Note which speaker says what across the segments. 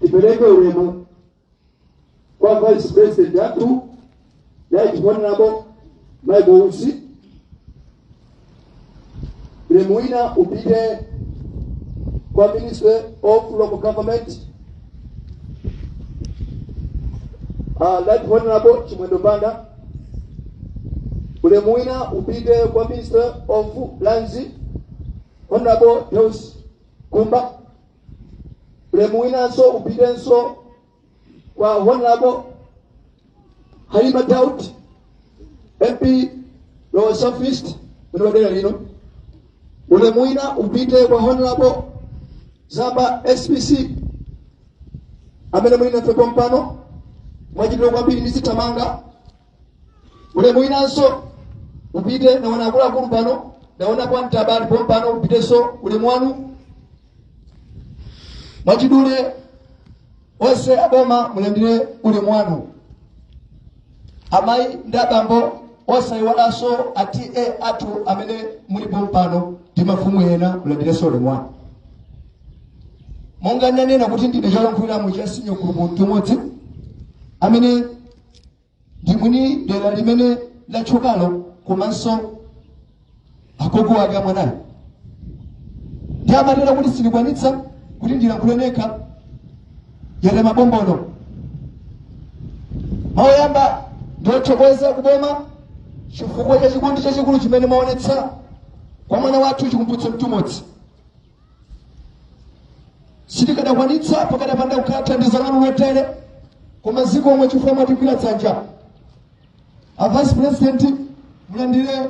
Speaker 1: tipereke ulemu kwa vice president athu right honorable michael usi ulemu wina upite kwa ministry of local government uh, right honorable chimwendo banda ulemu wina upite kwa ministry of lands honorable deus gumba ulemu winanso upitenso kwa honorable halima daud mp dowa south east mwini wa dera lino ulemu wina upite kwa honorable zamba spc amene muli nafe pompano mwachidule kwambiri ndizithamanga ulemu winanso upite naona akuluakulu pano naona kwa mtabani pompano upitenso ulemu wanu mwachidule onse aboma mulandire ulemu wanu amayi ndi abambo osayiwalanso a ta athu amene muli pompano ndi mafumu ena mulandirenso ulemu wanu monga ndanena kuti ndine cholankhuliramo cha senior gulupu mtumodzi amene ndi mwini dera limene latchukalo komanso agogo wake a mwanayu ndiye amatero kuti sindikwanitsa kuti ndilankhule nekha yere mabombono mawu oyamba ndi othokoza kuboma chifukwa cha chikondi chachikulu chimene mwaonetsa kwa mwana wathu chikumbutso mtumodzi sitikadakwanitsa pakadapanda kukhala thandizo lanu lotere koma zikomo chifukwa mwatigwira dzanja a vice president mulandire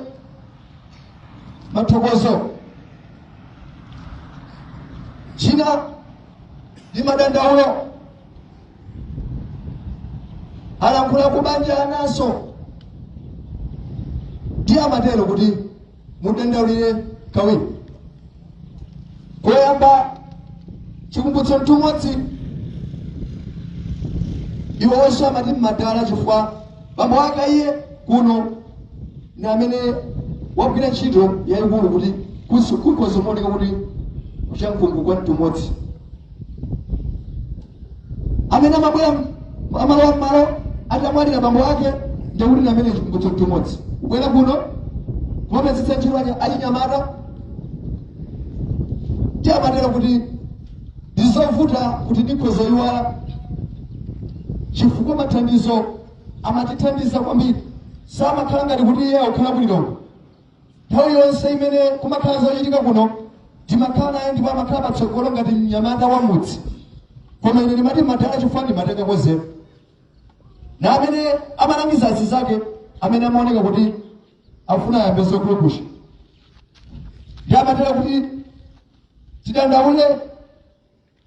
Speaker 1: mathokozo china ndi madandaulo alankhula kubanja anaso ndiye amatero kuti mudandaulire kawiri koyamba chikumbutso mtumodzi iwo onse amati mmadala chifukwa bambo ake iye kuno ni amene wagwira ntchito yayikulu kuti kusi- kukhoza kuoneka kuti kuchankhungu kwa mtumodzi amene amabwera m- amalowa mmalo atamwalira bambo ake nde kuti ndi amene chikumbutso mtumodzi kubwera kuno kumapezetsa ntchito achi- achinyamata ndiye amatero kuti ndizovuta kuti ndikhoza iwala chifukwa mathandizo amatithandiza kwambiri samakhala ngati kuti iye akukhala kulilongwe nthawi yonse imene kumakhala zochitika kuno timakhala naye ndipo amakhala patsogolo ngati mnyamata wa mudzi koma ine ndimati madala chifukwa ndimatenga khodzera na amene amalangiza anzake amene amaoneka kuti afuna ayambe zokulukusha ndiye amatere kuti tidandaule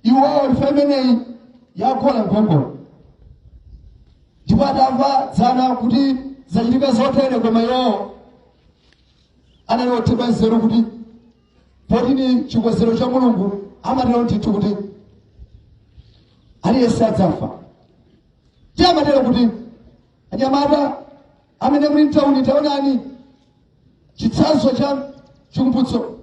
Speaker 1: iwowo imfa imeneyi yaziziritsa nkhongono ndipo adamva dzana kuti zachitika zotere koma iwowo anali othedwa nzeru kuti poti ni chikonzero cha mulungu amatero ndithu kuti aliyense adzafa ndiye amatero kuti anyamata amene muli mtauni taonani chitsanzo cha chikumbutso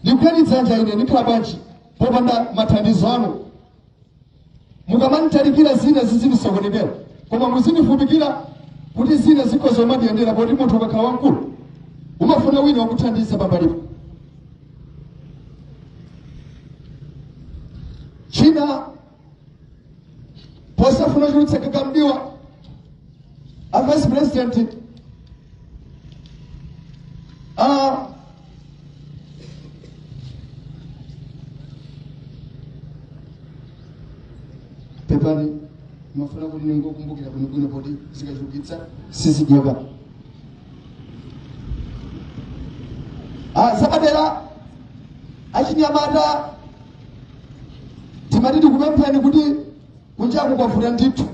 Speaker 1: ndigwireni dzanja ine ndikhala bwanji popanda mathandizo anu mukamanditalikira zina zizindisokonekera koma muzindifupikira kuti zina zikhoza kumandiyendera poti munthu ukakhala wamkulu umafuna wina wakuthandiza pambalipo china posafuna kuchulutsa gaga m'diwa a vice president a pepani ndimafuna kuti ningokumbukira bwinobwino poti zikachulukitsitsa sizidyeka Ah, zapadera achinyamata timati tikupempheni kuti kunjaku kwavuta ndithu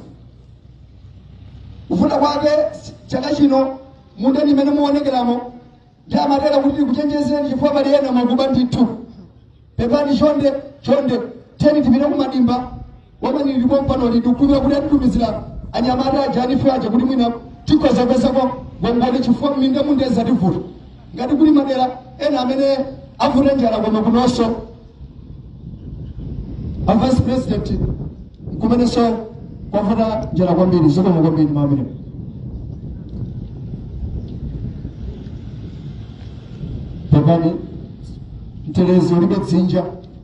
Speaker 1: kuvuta kwake chaka chino m'mindamu imene muonekeramo ndiye amatere kuti tikuchenjezeni chifukwa pali ena amakuba ndithu pepani chonde chonde teni tipite kumadimba Koma ndili pompano ndikumva kuti atitumizira anyamata aja a NEEF aja kuti mwina tikhoza kupezako ngongole chifukwa mmindamu nde zativuta ngati kuli madera ena amene avuta njala koma kunonso a vice president nkumenenso kwavuta njala kwambiri zokoma kwambiri mamene pepani mtelezo ulibe dzinja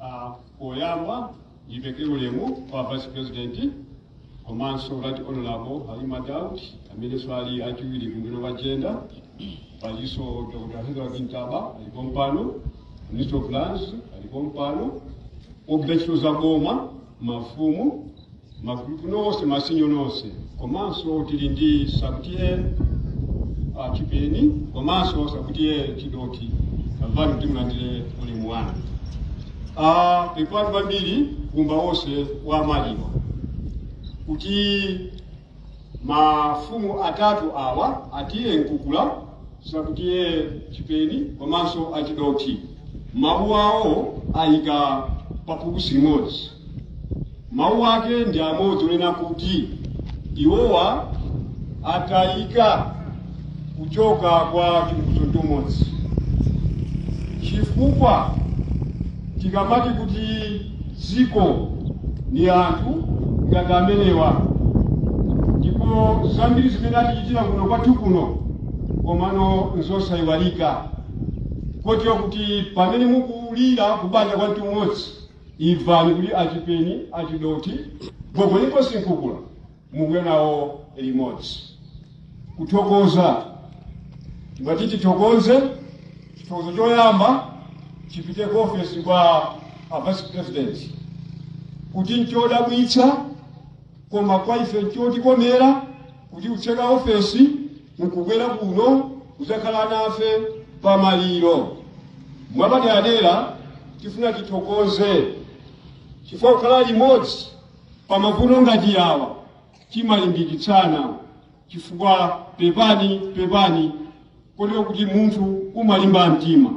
Speaker 1: Ah, poyamba ndipereke ulemu kwa vice president komanso right honorable halima daud amenenso ali wachiwiri ku mbali ya jenda palinso dr hezra ntaba ali pompano minister of lands ali pompano ogwira ntchito za boma mafumu, magulupu nonse, masinyo nonse, komanso tili ndi Sub T/A a Chipeni komanso Sub T/A Chidothi imvani kuti mulandire ulemu wanu. Ah, pepani kwambiri kumba wonse wa maliro kuti mafumu atatu awa a T/A Mkukula Sub T/A Chipeni komanso a Chidothi mawu awo ayika paphukusi limodzi mawu ake ndi amodzi onena kuti iwowa atayika kuchoka kwa Chikumbutso Mtumodzi chifukwa tikamati kuti dziko ni anthu ngati amenewa ndipo zambiri zimene atichitira kuno kwathu kuno komano nzosayiwalika kotero kuti pamene mukulira kubanja kwa Mtumodzi imvani kuti a Chipeni a Chidothi gogo Inkosi Mkukula muli nawo limodzi kuthokoza timati tithokoze chithokozo choyamba chipite ku ofesi kwa a vice president kuti nchodabwitsa koma kwa ife nchotikomera kuti kutseka ofesi nkubwera kuno kudzakhala nafe pamaliro mwapaderadera tifuna tithokoze chifukwa kukhala limodzi Pamavuto ngati awa timalimbikitsana chifukwa pepani pepani kotero kuti munthu umalimba mtima.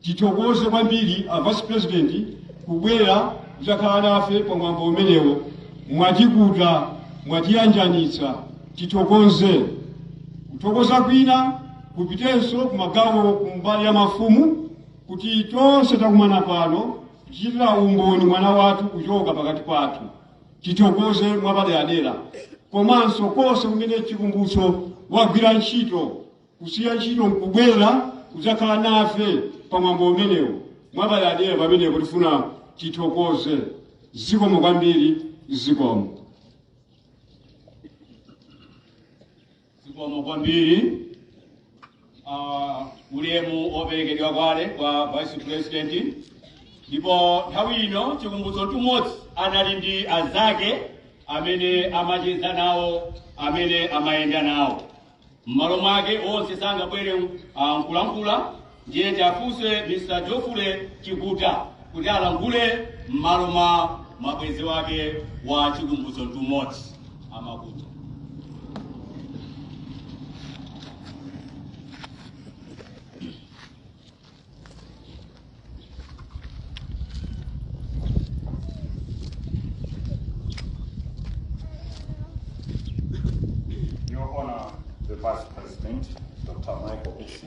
Speaker 1: Tithokoze kwambiri a Vice President kubwera kudzakhala nafe pa mwambo umenewo. Mwatikuta, mwatiyanjanitsa, tithokoze. Kuthokoza kwina kupitenso kumagawo kumbali ya mafumu kuti tonse takumana pano kuchitira umboni mwana wathu kuchoka pakati pathu, tithokoze mwapaderadera komanso konse kumene Chikumbutso wagwira ntchito kusiya ntchito nkubwera kudzakhala nafe pa mwambo umenewu mwapaderadera pamenepo tifuna tithokoze zikomo kwambiri zikomo. zikomo kwambiri uh, ulemu woperekedwa kale kwa vice president ndipo nthawi ino Chikumbutso Mtumodzi anali ndi azake amene amacheza nawo amene amayenda nawo m'malo mwake onse sangabwere uh, nkulankhula Ndiye tiwafunse Mr Geoffrey Chikuta kuti alankhule m'malo mwa mabwenzi ake a Chikumbutso Mtumodzi amakuta. Your Honor, the Vice President, Dr. Michael Usi,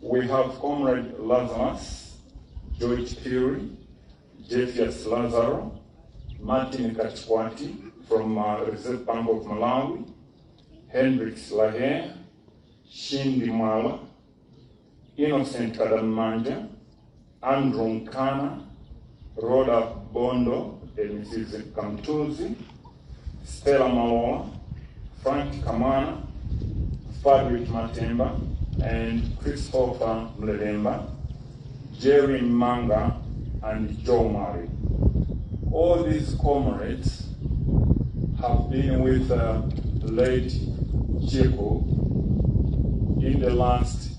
Speaker 1: We have Comrade Lazarus, George Phiri, Jetius Lazaro, Martin Kachkwati from uh, Reserve Bank of Malawi, Hendrix Lahe, Shindi Mwala, Innocent Kadamanja, Andrew Mkana, Roda Bondo and Mrs. Kamtuzi, Stella Maloa, Frank Kamwana, Frederick Matemba, and Christopher Mlelemba, Jerry Manga, and Joe Murray. All these comrades have been with uh, late Chico in the last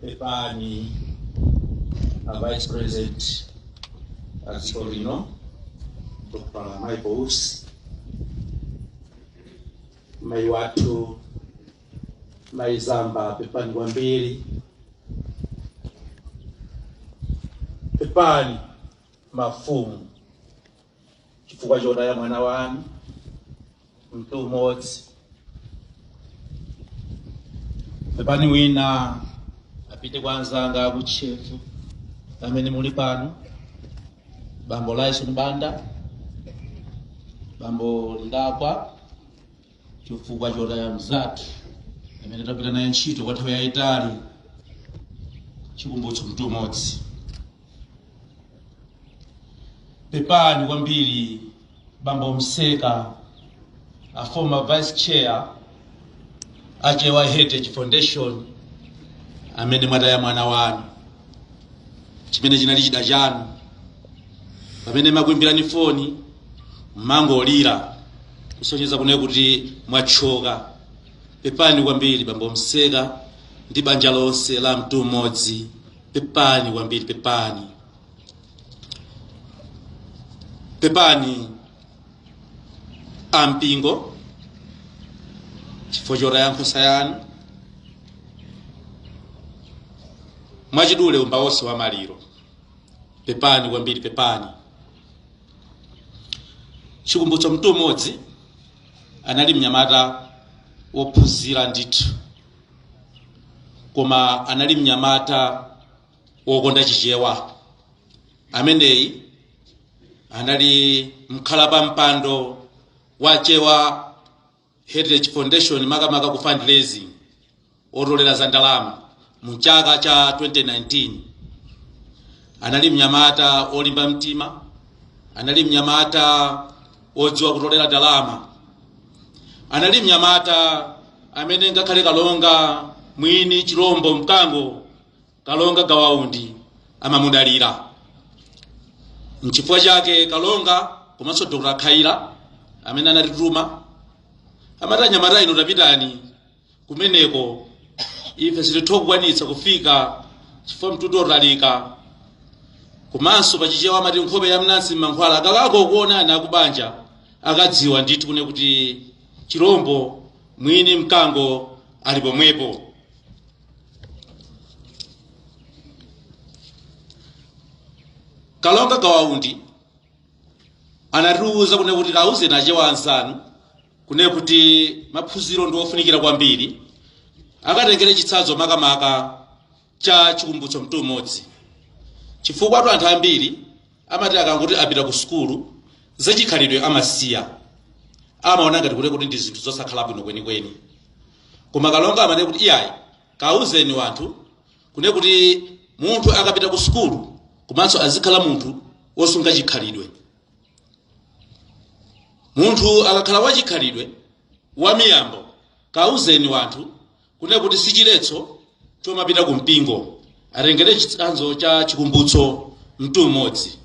Speaker 1: pepani a vice president a dziko lino dr michael usi mayi wathu mayi zamba pepani kwambiri pepani mafumu chifukwa chotaya mwana wanu Mtumodzi pepani wina apite kwa anzanga aku Chefo amene muli pano bambo laison banda bambo Likagwa chifukwa chotaya mzathu amene tagwira naye ntchito kwa nthawi yayitali chikumbutso Mtumodzi pepani kwambiri bambo mseka a former vice chair a chewa heritage foundation amene mwataya mwana wanu chimene chinali chida chanu pamene timakuimbirani foni mumangolira kusonyeza kunena kuti mwathyoka pepani kwambiri bambo mseka ndi banja lonse la Mtumodzi pepani kwambiri pepani pepani ampingo chifukwa chotaya nkhosa yanu mwachidule khamu lonse la maliro pepani kwambiri pepani chikumbutso Mtumodzi anali mnyamata wophunzira ndithu koma anali mnyamata wokonda chichewa ameneyi anali mkhalapampando wa Chewa Heritage Foundation makamaka ku fundraising otolera za ndalama mu chaka cha 2019 anali mnyamata olimba mtima anali mnyamata odziwa kutolera ndalama anali mnyamata amene ngakhale kalonga mwini chilombo mkango kalonga gawa undi amamudalira nchifukwa chake kalonga komanso dr khaila amene anatituma amati anyamata inu tapitani kumeneko ife sititha kukwanitsa kufika chifukwa mtunda otalika komanso pachichewa amati nkhope ya mnansi mmankhwala akakangokuonani akubanja akadziwa ndithu kune kuti chirombo mwini mkango ali pomwepo kalonga gawa undi anatiuza kune kuti kauzeni achewa anzanu kune kuti maphunziro ndi ofunikira kwambiri akatengere chitsanzo makamaka cha chikumbutso mtumodzi chifukwatu anthu ambiri amati akangoti apita ku sukulu zachikhalidwe amasiya amaona ngati kuti kuti ndi zinthu zosakhala bwino kwenikweni koma kalonga amane kuti iyayi kauzeni wanthu kune kuti munthu akapita ku sukulu komanso azikhala munthu wosunga chikhalidwe munthu akakhala wachikhalidwe wamiyambo kauzeni wanthu kunena kuti si chiletso chomapita ku mpingo atengere chitsanzo cha chikumbutso mtumodzi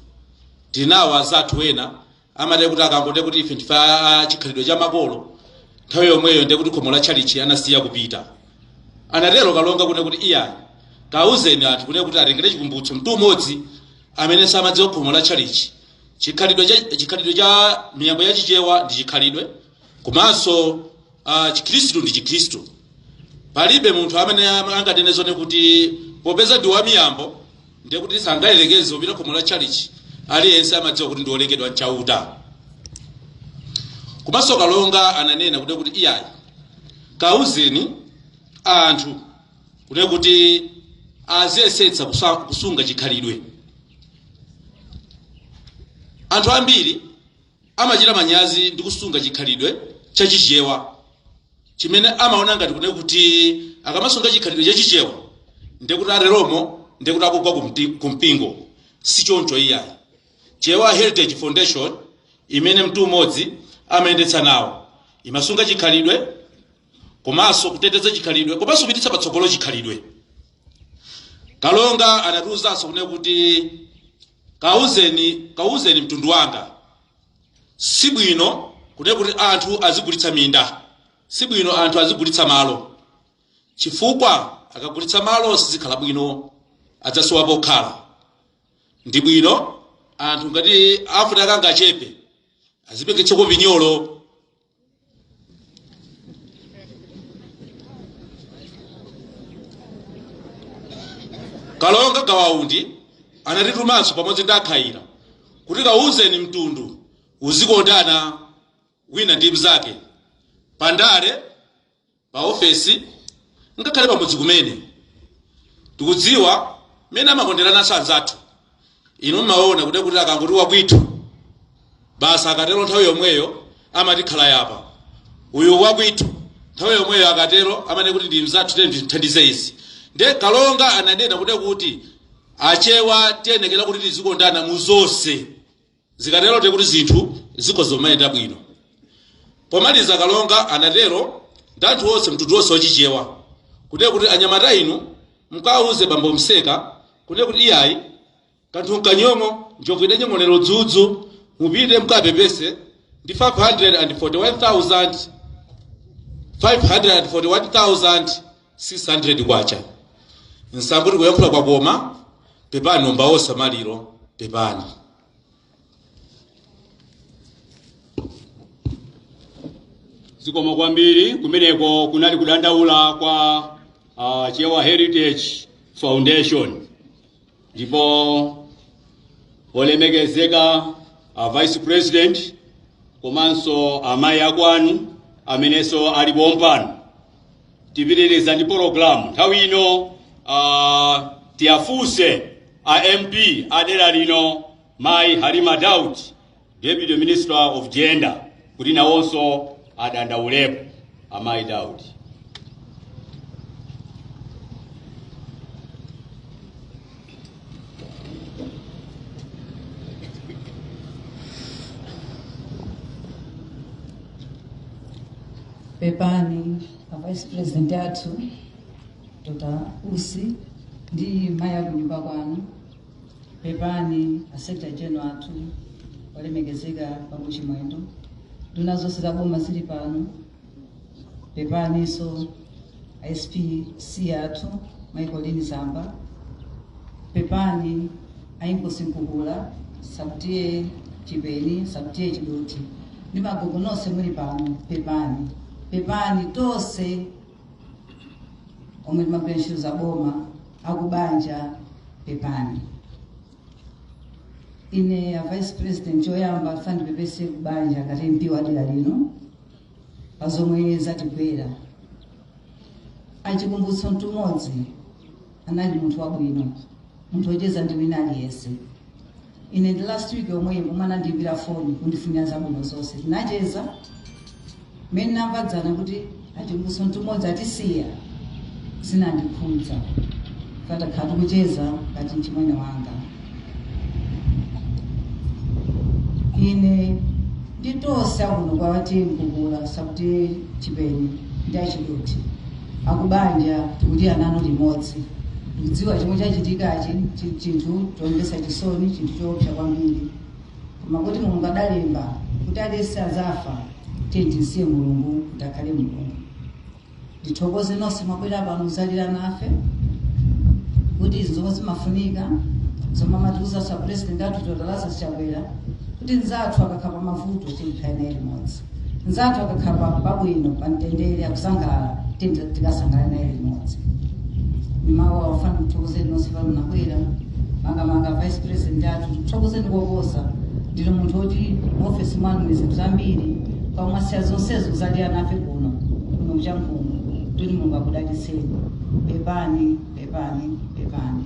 Speaker 1: tinawo azathu ena amati kuti akangoti kuti ife ndife a- a chikhalidwe cha makolo nthawi yomweyo ndiye kuti khomo la tchalitchi amasiya kupita anatero kalonga kunena kuti iyayi kauzeni anthu kunena kuti atengere chikumbutso mtumodzi amene amadziwa khomo la tchalitchi chikhalidwe cha chikhalidwe cha miyambo ya chichewa ndi chikhalidwe komanso ah, chikhristu ndi chikhristu palibe munthu amene anganene zone kuti popeza ndi wamiyambo ndiye kuti sangayerekeze kupita khomo la tchalitchi aliyense amadziwa kuti ndi wolengedwa mchauta komanso kalonga ananena kune kuti iyayi kauzeni anthu kune kuti aziyesetsa kusa- kusunga chikhalidwe anthu ambiri amachita manyazi ndi kusunga chikhalidwe cha Chichewa chimene amaona ngati kune kuti akamasunga chikhalidwe cha Chichewa ndiye kuti ateromo ndiye kuti akugwa ku mti- ku mpingo. Si choncho iyayi. Chewa Heritage Foundation imene Mtumodzi amayendetsa nawo imasunga chikhalidwe komanso kuteteza chikhalidwe komanso kupititsa patsogolo chikhalidwe. Kalonga anatiuzanso kune kuti Kauzeni, kauzeni mtundu wanga, si bwino kunena kuti anthu azigulitsa minda, si bwino anthu azigulitsa malo, chifukwa akagulitsa malo sizikhala bwino, adzasowa pokhala. Ndi bwino anthu ngati afuna kangachepe, azibwereketsako pinyolo. kalonga Gawa Undi anatitumanso pamodzi ndi akhayira kuti kawuzeni mtundu uzikondana wina ndi mnzake pandale m'maofesi ngakhale pamudzi kumene tikudziwa mmene amakonderana anzathu inu mmaona kuti kuti akangoti wakwithu basi akatero nthawi yomweyo amati khalaya apa uyu wakwithu nthawi yomweyo akatero amanena kuti ndi mzathu tiyeni timthandize izi nde kalonga ananena kuti kuti achewa tiyenekera kuti tizikondana mu zonse Zikatero ndiye kuti zinthu zikhoza kumayenda bwino. Pomaliza Kalonga anatero ndi anthu onse mtundu wonse wachichewa kunena kuti anyamata inu mkawauze bambo Mseka kunena kuti iyayi kanthu nkanyong'o njovu idanyong'onera udzudzu mupite mkapepese ndi 541,000 541,000 600 kwacha musambule kuyankhula kwake koma pepani abambo osa maliro pepani zikomo kwambiri kumeneko kunali kudandaula kwa uh, chewa heritage foundation ndipo olemekezeka a vice president komanso amayi akwawo amenenso ali pompano tipitiriza ndi programu nthawi ino uh, tiyafunse a mp a dera lino mayi halima daud Deputy Minister of Gender kuti nawonso adandauleko amayi Daudi. pepani a vice president athu dr usi ndi mayi akunyumba kwanu pepani a secretary general athu olemekezeka bambo chimwendo nduna zonse za boma zili pano pepaninso a spc athu mayi Colleen Zamba pepani a inkosi nkulu a sub TA Chipeni sub TA Chidothi ndi magogo nonse muli pano pepani pepani tonse omwe timagwira ntchito za boma akubanja pepani ine a vice president choyamba ndipepese kubanja ngati mp wa dera lino pa zomwe zatigwera a Chikumbutso Mtumodzi anali munthu wabwino munthu wocheza ndi wina aliyense Ine ndi last week yomweyi pomwe anandiimbira foni kundifunira zabwino zonse tinacheza mmene namva dzana kuti achimwene somtumodzi atisiya zinandikhudza kaamba takhala tikucheza ngati mchimwene wanga ine nditosa kuno kwa watengu kula sakuti chipeni ndi achidoti Akubanja tikulira nanu limodzi. Ndikudziwa chomwe chachitikachi chi chinthu chomvetsa chisoni, chinthu choopsa kwambiri, koma poti Mulungu adalemba kuti aliyense azafa, tiyeni timsiye Mulungu kuti akhale Mulungu. Ndithokoze nonse mwabwera pano kuzalira nafe ndi izi zomwe zimafunika zomwe amatiuza a president athu Dr. Lazarus Chakwera kuti nzathu akakhala pa mavuto tikhale naye limodzi. Mnzathu akakhala pa pabwino, pa mtendere, akusangalala, tiyeni tikasangalale naye limodzi. Mmawu wafupi ndithokoze nonse pano mwabwera, makamaka vice president athu tikuthokozeni koposa. Ndinu munthu woti mu ofesi mwanu muli zinthu zambiri, koma mwasiya zonsezo kuzalira nafe kuno kuno ku Chankhungu. Ndithu Mulungu akudalitseni. Pepani, pepani, pepani.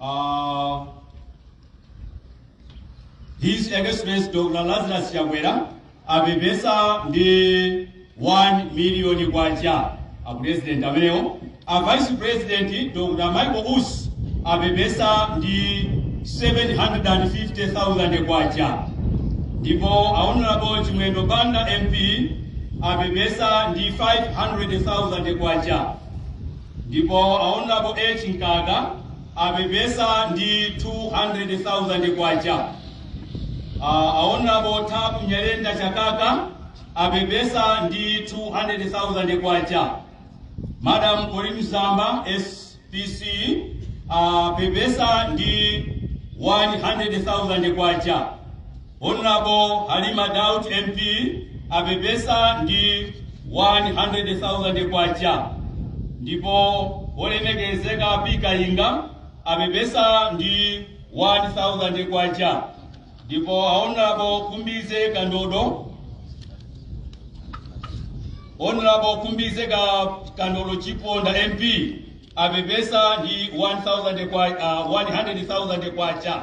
Speaker 1: Uh, His Excellency Dr. Lazarus Chakwera apepesa ndi 1 miliyoni kwacha a president amenewo a vice president Dr. Michael Usi apepesa ndi 750,000 kwacha ndipo a honorable Chimwendo Banda MP apepesa ndi 500,000 kwacha Ndipo a Hon. H. Mkaka apepesa ndi K200,000. A Hon. Thabo Nyirenda Chakaka apepesa ndi K200,000. Madam Colleen Zamba, SPC, apepesa ndi K100,000. Hon Halima Daud MP apepesa ndi K100,000 ndipo Wolemekezeka P Kayinga apepesa ndi K1,000 ndipo a Hon Khumbize Kandodo Hon Khumbize ka Kandodo Chiponda MP apepesa ndi 1,000 kwa- ah, 100,000 kwacha.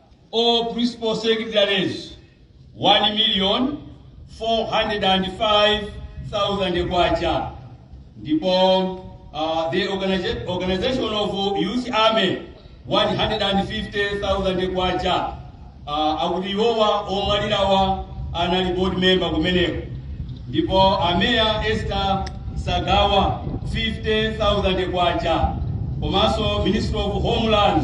Speaker 1: All principal secretaries, 1 million 405,000 kwacha. Ndipo uh, the organiza- organization of youth army 150,000 kwacha. Uh, akuti iwowa omwalirawa anali board member kumeneko. Ndipo ameya Esther Sagawa 50,000 kwacha. Komanso Minister of Homeland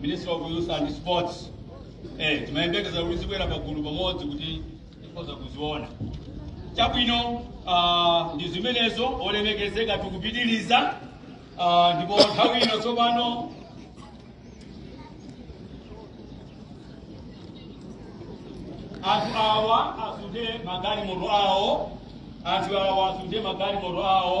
Speaker 1: minister of youth and sports eh timayembekeza kuti zibwera pagulu pamodzi kuti tikhoza kuziona chabwino ah, ndi zimenezo olemekezeka tikupitiriza ah, ndipo nthawi ino tsopano anthu awa asunde magalimoto awo anthu awa asunde magalimoto awo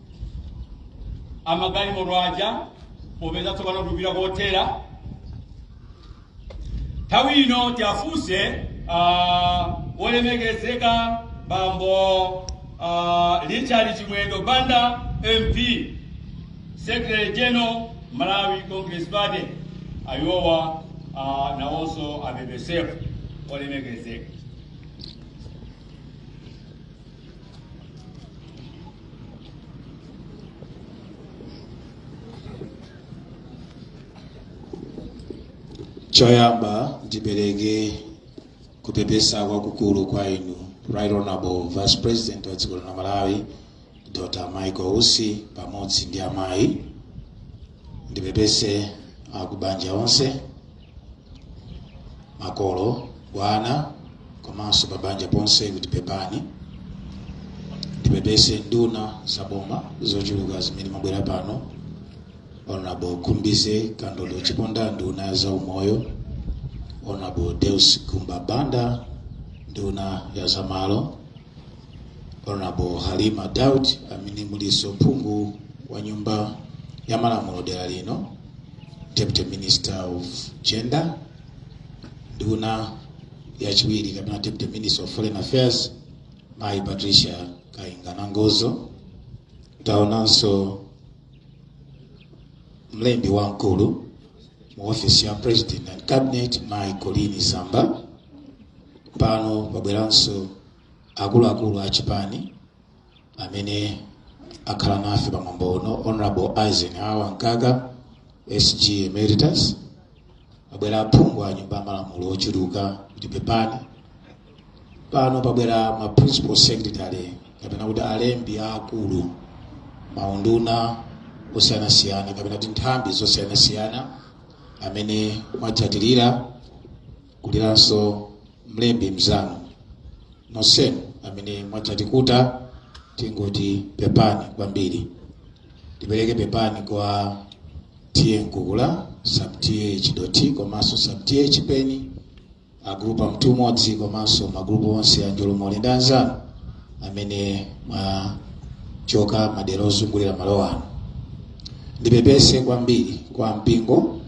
Speaker 1: amagalimoto aja popeza tsopano tikupita kothera nthawi ino tiafunse ah, wolemekezeka bambo ah, richard chimwendo banda mp secretary general malawi congress party abwere ah, nawonso apepesefu wolemekezeka choyamba ndipereke kupepesa kwakukulu kwa inu right honorable vice president wa dziko la malawi dr michael usi pamodzi ndi amayi ndipepese akubanja onse makolo ana komanso pabanja ponse kuti pepani ndipepese nduna za boma zochuluka zimene mwabwera pano honorable khumbize kandodo chiponda nduna ya za umoyo honorable deus gumba banda nduna ya za malo Honorable Halima Daud amene mulinso m'phungu wa nyumba ya malamulo dera lino Deputy Minister of Gender nduna yachiwiri kapena Deputy Minister of Foreign Affairs mayi Patricia Kainga Nangozo taonanso mlembi wamkulu mu office ya President and Cabinet mayi Colleen Zamba pano pabweranso akuluakulu a chipani amene akhala nafe pa mwambo uno honorable eisenhower mkaka sg emeritus pabwera aphungu a nyumba ya malamulo ochuluka kuti pepani pano pabwera ma principal secretary kapena kuti alembi aakulu maunduna osiyanasiyana kapena kuti nthambi zosiyanasiyana amene mwatsatirira kuliranso mlembi mzanu nonsenu amene mwadzatikuta tingoti pepani kwambiri tipereke pepani kwa T/A Mkukula sub T/A Chidothi komanso sub T/A Chipeni agrupu a Mtuumodzi komanso magrupu onse a njolomole ndi anzanu amene mwachokera madera ozungulira malo ano ndipepese kwambiri kwa mpingo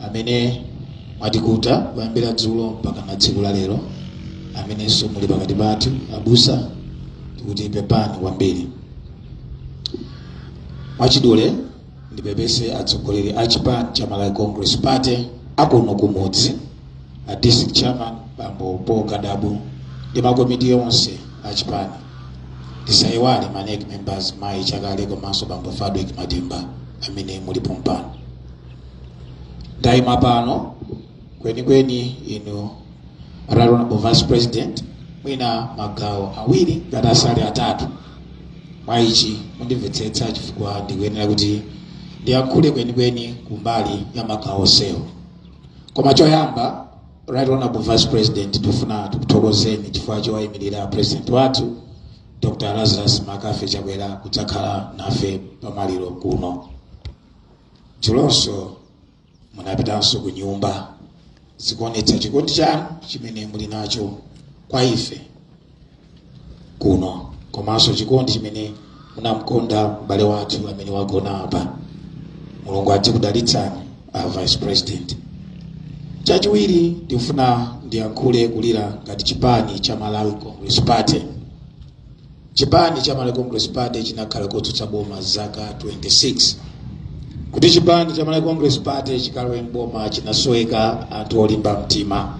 Speaker 1: amene mwatikuta kuyambira dzulo mpakana tsiku la lero amenenso muli pakati pathu abusa tikuti pepani kwambiri mwachidule ndipepese atsogoleri a chipani cha malawi congress party akuno kumudzi a district chairman bambo paul kadabu ndi makomiti onse a chipani tisayiwale ma NEC members mayi chakale komanso bambo fadwek matimba amene muli pompano ndayima pano kwenikweni inu right honorable vice president mwina magawo awiri ngati sali atatu mwa ichi mundimvetsetsa chifukwa ndikuyenera kuti ndiyankhule kwenikweni kumbali ya magawo onsewo koma choyamba right honorable vice president ndifuna tikuthokozeni chifukwa chowayimirira president wathu dr lazarus McCarthy chakwera kudzakhala nafe pamaliro kuno dzulonso munapitanso ku nyumba zikuonetsa chikondi chanu chimene muli nacho kwa ife kuno komanso chikondi chimene munamkonda m'bale wathu amene wagona apa mulungu adzikudalitsani a vice president chachiwiri ndikufuna ndiyankhule kulira ngati chipani cha malawi congress party chipani cha malawi congress party chinakhala kotsutsa boma zaka 26 kuti chipani cha malawi congress party chikalowe mboma chinasoweka anthu olimba mtima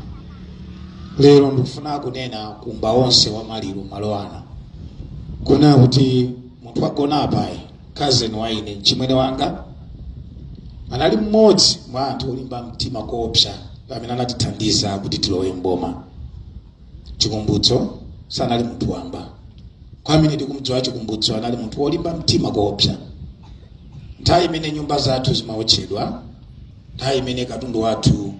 Speaker 1: lero ndikufuna kunena kumbali onse wa maliro malo ano kunena kuti munthu wagona apayu kazeni wa ine mchimwene wanga anali mmodzi mwa anthu olimba mtima koopsa amene anatithandiza kuti tilowe mboma chikumbutso sanali munthu wamba kwa amene tikumdziwa chikumbutso anali munthu wolimba mtima koopsa nthawi imene nyumba zathu zimaotchedwa nthawi imene katundu wathu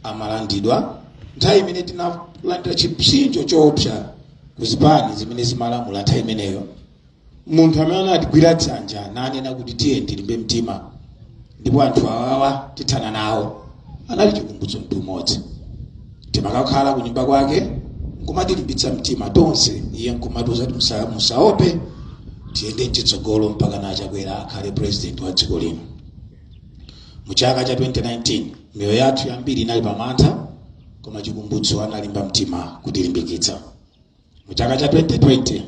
Speaker 1: amalandidwa nthawi imene tinalandira chipsinjo choopsa ku zipani zimene zimalamula nthawi imeneyo munthu amene anatigwira dzanja nanena kuti tiye tilimbe mtima ndipo anthu awawa tithana nawo anali chikumbutso Mtumodzi timakakhala ku nyumba kwake nkumatilimbitsa mtima tonse iye nkumatiuza kuti "Musa- musaope tiyende mchitsogolo mpakana Chakwera akhale president wa dziko lino mu chaka cha 2019 miyoyo yathu yambiri inali pamantha koma chikumbutso analimba mtima kutilimbikitsa muchaka cha 2020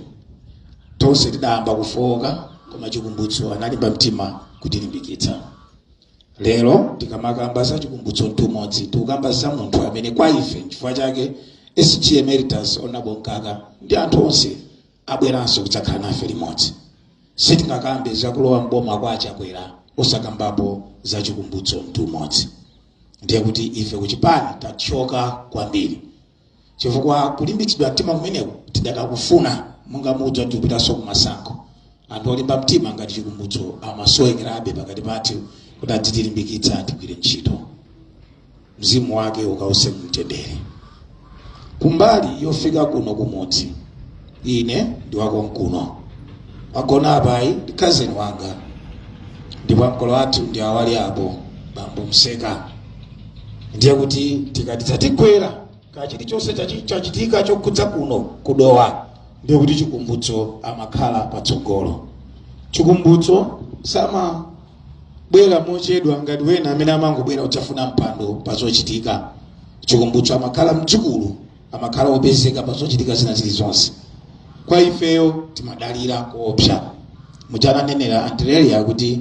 Speaker 1: tonse tidayamba kufowoka koma chikumbutso analimba mtima kutilimbikitsa lero tikamakamba za chikumbutso mtumodzi tikukamba za munthu amene kwa ife chifukwa chake sg emeritus Honourable Mkaka ndi anthu onse abweranso kudzakhala nafe limodzi sitingakambe zakulowa mboma kwa a Chakwera osakambapo za chikumbutso mtumodzi ndiye kuti ife kuchipani tathyoka kwambiri chifukwa kulimbitsidwa mtima kumeneku tidakakufuna monga mudziwa tikupitanso kumasankho anthu olimba mtima ngati chikumbutso amasowekerabe pakati pathu kuti adzitilimbikitsa tigwire ntchito mzimu wake ukause mumtendere kumbali yofika kuno kumudzi Ine ndi wakonkuno. Wagona apayi ndi khazeni wanga. Ndipo ankolo athu ndi awo ali apo, bambo Mseka. Ndiye kuti tikati zatigwera ka chilichonse chachi- chachitika chokhudza kuno ku Dowa, ndiye kuti chikumbutso amakhala patsogolo. Chikumbutso samabwera mochedwa ngati wena amene amangobwera kudzafuna mpando pa zochitika. Chikumbutso amakhala mdzukulu amakhala opezeka pa zochitika zina zilizonse kwa ifeyo timadalira koopsa muja ananenera antirelia kuti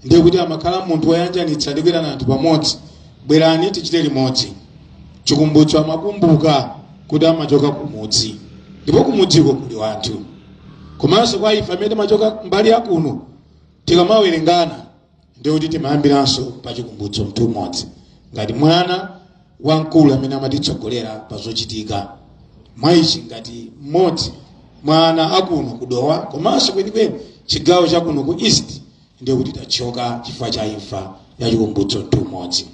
Speaker 1: ndiye kuti amakhala munthu woyanjanitsa ndi kuitana anthu pamodzi bwerani tichite limodzi chikumbutso amakumbuka kuti amachoka kumudzi ndipo kumudziko kuli wanthu komanso kwa ife amene timachoka mbali yakuno tikamawerengana ndiye kuti timayambiranso pa chikumbutso Mtumodzi ngati mwana wamkulu amene amatitsogolera pa zochitika mwa ichi ngati mmodzi mwa ana akuno ku Dowa komanso kwenikweni chigawo chakuno ku east ndiye kuti tathyoka chifukwa cha imfa ya chikumbutso Mtumodzi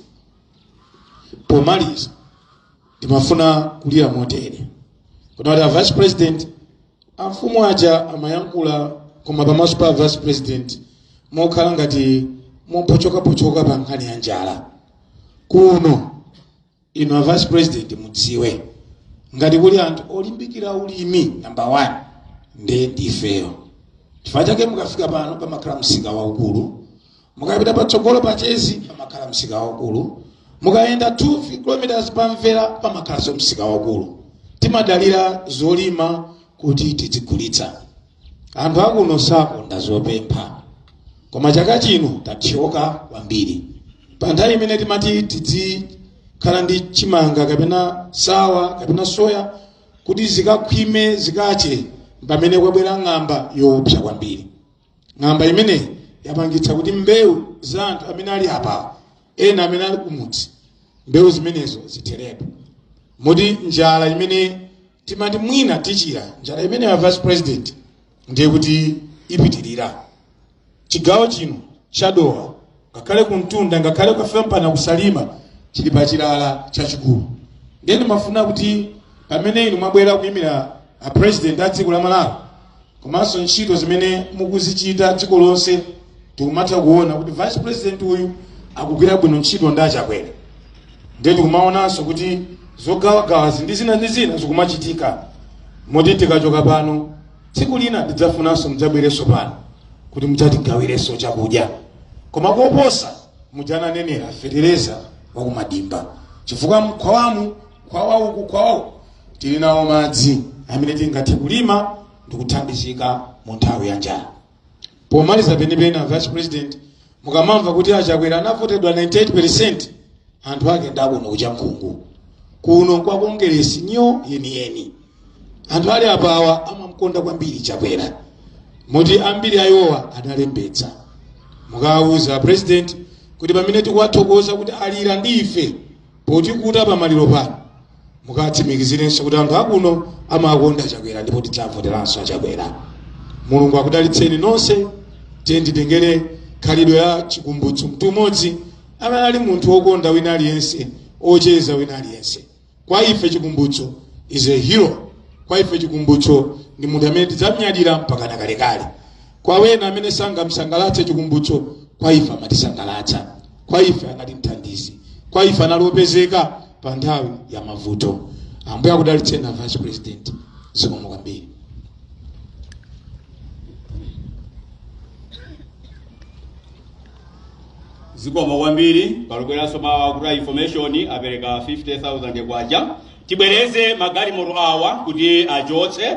Speaker 1: pomaliza timafuna kulira motere kuti a vice president amfumu aja amayankhula koma pamaso pa vice president mokhala ngati mopochokapochoka pa nkhani ya njala kuno ino a vice president mudziwe ngati kuli anthu olimbikira ulimi namba 1 ndiye ndifeyo chifukwa chake mukafika pano pamakhala msika waukulu mukapita patsogolo pa chezi pamakhala msika waukulu mukayenda 2 km pamvera pamakhalanso msika waukulu timadalira zolima kuti tidzigulitsa anthu akuno sakonda zopempha koma chaka chino tathyoka kwambiri pa nthawi imene timati tidzikhala ndi chimanga kapena sawa kapena soya kuti zikakhwime zikache mpamene kwabwera ng'amba yoopsa kwambiri ng'amba imeneyi yapangitsa kuti mbewu za anthu amene ali apawo ena amene ali kumudzi mbewu zimenezo zitheretu moti njala imene timati mwina tichira njala imene ya vice president ndiye kuti ipitirira chigawo chino cha Dowa ngakhale kumtunda ngakhale ukafika mpaka ku Salima chili pa chilala chachikulu ndiye ndimafuna kuti pamene inu mwabwera kuyimira a president a dziko la malawi komanso ntchito zimene mukuzichita dziko lonse tikumatha kuona kuti vice president uyu akugwira bwino ntchito ndi achakwera ndiye tikumaonanso kuti zogawagawazi ndi zina ndi zina zikumachitika moti tikachoka pano tsiku lina ndidzafunanso mudzabwerenso pano kuti mudzatigawirenso chakudya koma koposa mudzatinenera fetereza wakumadimba chifukwa mkhwawamu khwawa uku khwawa uku tili nawo madzi amene tingathe kulima ndikuthandizika mu nthawi ya njala pomaliza penipeni a vice president mukamamva kuti a Chakwera anavoteredwa 98 anthu ake ndakuno ku Chankhungu kuno kwa kongeresi nyo yeniyeni anthu ali apawa amamkonda kwambiri chakwera moti ambiri awowa analembetsa mukawuza president kuti pamene tikuwathokoza kuti alira ndi ife potikhuza pamaliro pano mukatsimikizirenso kuti anthu akuno amawakonda a Chakwera ndipo tidzawavoteranso a Chakwera mulungu akudalitseni nonse tiyeni titengere khalidwe la chikumbutso mtumodzi amene ali munthu wokonda wina aliyense ocheza wina aliyense kwa ife chikumbutso is a hero kwa ife chikumbutso ndi munthu amene tidzamnyadira mpaka nakalekale kwa wena amene sangamsangalatse chikumbutso kwa ife amatisangalatsa kwa ife anali mthandizi kwa ife anali opezeka pa nthawi ya mavuto ambuye akudalitseni a vice president zikomo kwambiri zikomo kwambiri palubweranso mawa kuti a information apereka 50000 kwacha tibwereze magalimoto awa kuti achotse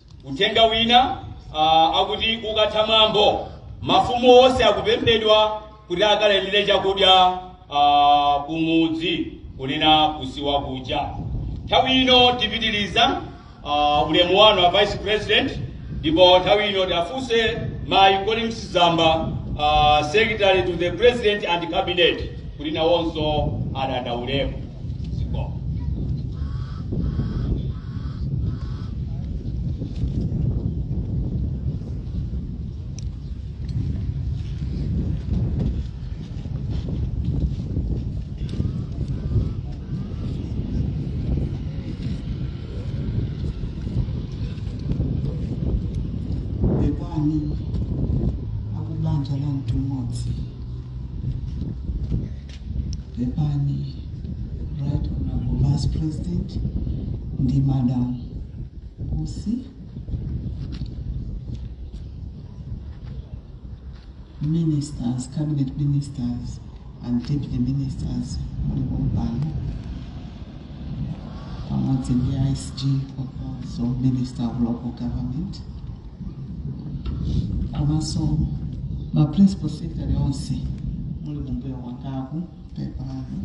Speaker 1: Uthenga wina uh, akuti ukatha mwambo mafumu onse akupemphedwa kuti akalandire chakudya uh, kumudzi kunena kusiwa kuja. Nthawi ino tipitiriza uh, ulemu wanu a vice president ndipo nthawi ino tiwafunse mayi Colleen Zamba uh, secretary to the president and cabinet kuti nawonso adandaulemu. pepani akubanja la Mtumodzi Pepani, Right Honorable Vice President ndi Madam Usi. Ministers, cabinet ministers and deputy ministers mulipo mpano pamodzi ndi ISG komanso Minister of Local Government. komanso ma principal secretary onse muli kumbuyo kwangaku pepani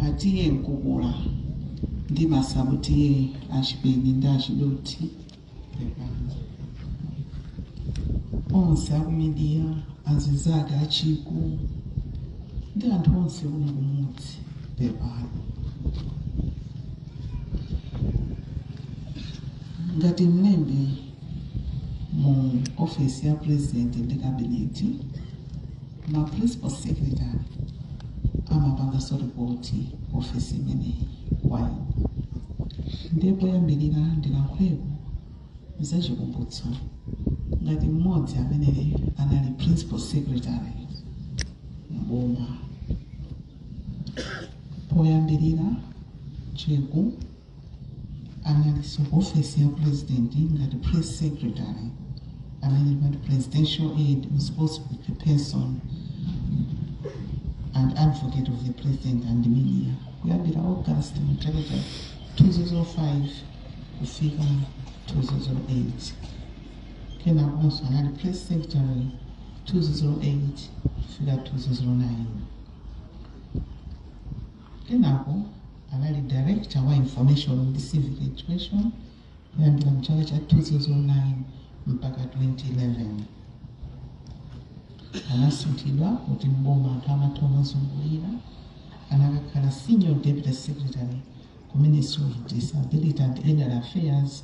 Speaker 1: a T/A Mkukula ndi ma sub T/A a Chipeni ndi a Chidothi pepani onse aku media azinzake a Chiku ndi anthu onse kuno kumudzi pepani ngati mlembi mu ofesi ya president ndi cabinet ma principal secretary amapanganso ripoti ofesi imeneyi kwayo ndiye poyambirira ndilankhuleko za Chikumbutso ngati mmodzi amene anali principal secretary mboma poyambirira Chiku analinso ku ofesi ya pulezidenti ngati press secretary amene timati presidential aide responsible person and advocate of the president and media kuyambira august mchaka cha 2005 kufika 2008 kenakonso anali press secretary 2008 kufika 2009 kenako anali director wa information ndi civic education kuyambira mchaka cha 2009 mpaka 2011 anasinthidwa kuti mboma anthu amatha kumazungulira anakakhala senior deputy secretary ku ministry of disability and elder affairs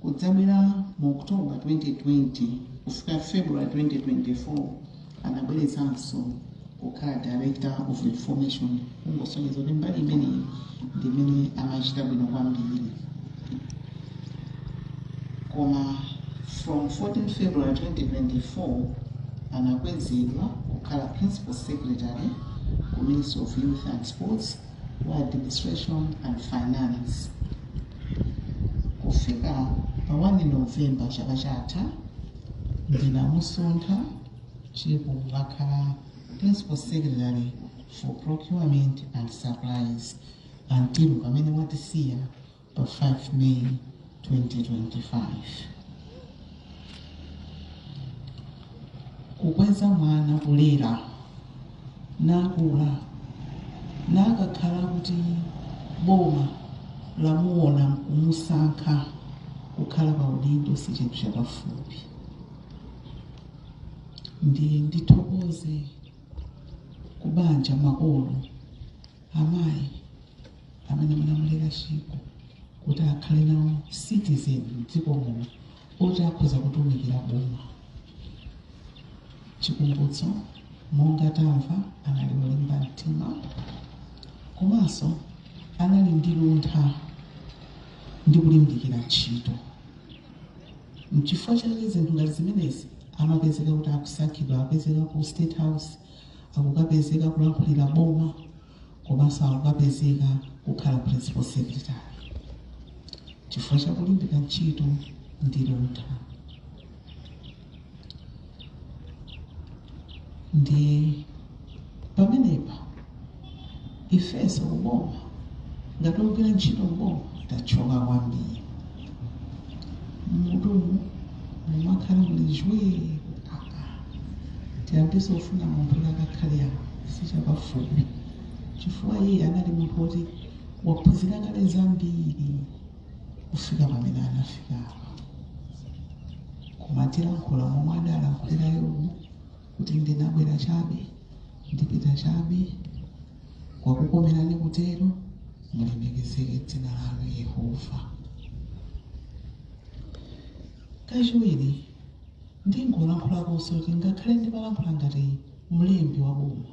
Speaker 1: Kudzabwera mu October 2020 kufika February 2024 anabwereranso kukhala director of information kungosonyeza kuti mbali imeneyi ndi imene amachita bwino kwambiri koma from 14 february 2024 anakwezedwa kukhala principal secretary ku ministry of youth and sports wa administration and finance Kufika pa 1 November chaka chatha, ndinamusintha ndipo wakhala Principal Secretary for Procurement and Supplies until pamene watisiya pa 5 May 2025. kukweza mwana kumulera nakula nakakhala kuti boma lamuona nkumusankha kukhala pa udindo si chinthu chapafupi ndiye ndithokoze kubanja makolo amayi amene munamulera Chiku kuti akhale nawo citizen mdziko muno oti akhoza kutumikira boma chikumbutso monga tamva anali wolimba mtima komanso anali ndi luntha ndi kulimbikira ntchito mchifukwa chake zinthu ngati zimenezi amapezeka kuti akusankhidwa akapezeka ku state house akukapezeka kulankhulira boma komanso akukapezeka kukhala principal secretary chifukwa chakulimbika ntchito ndi luntha ndi pamenepa ifeso kuboma ngati ogwira ntchito mboma tathyoka kwambiri muti mumakhala muli zii tiyambenso kufuna munthu kuti akakhale apo sichapafupi chifukwa iye anali munthu woti waphunzira kale zambiri kufika pamene anafika apa koma tilankhula momwe adalankhulira yobu kuti ndinabwera chabe ndipita chabe kwakukomerani kutero mulemekezeke dzina lanu yehova kachiwiri ndingolankhulakonso kuti ngakhale ndimalankhula ngati mlembi wa boma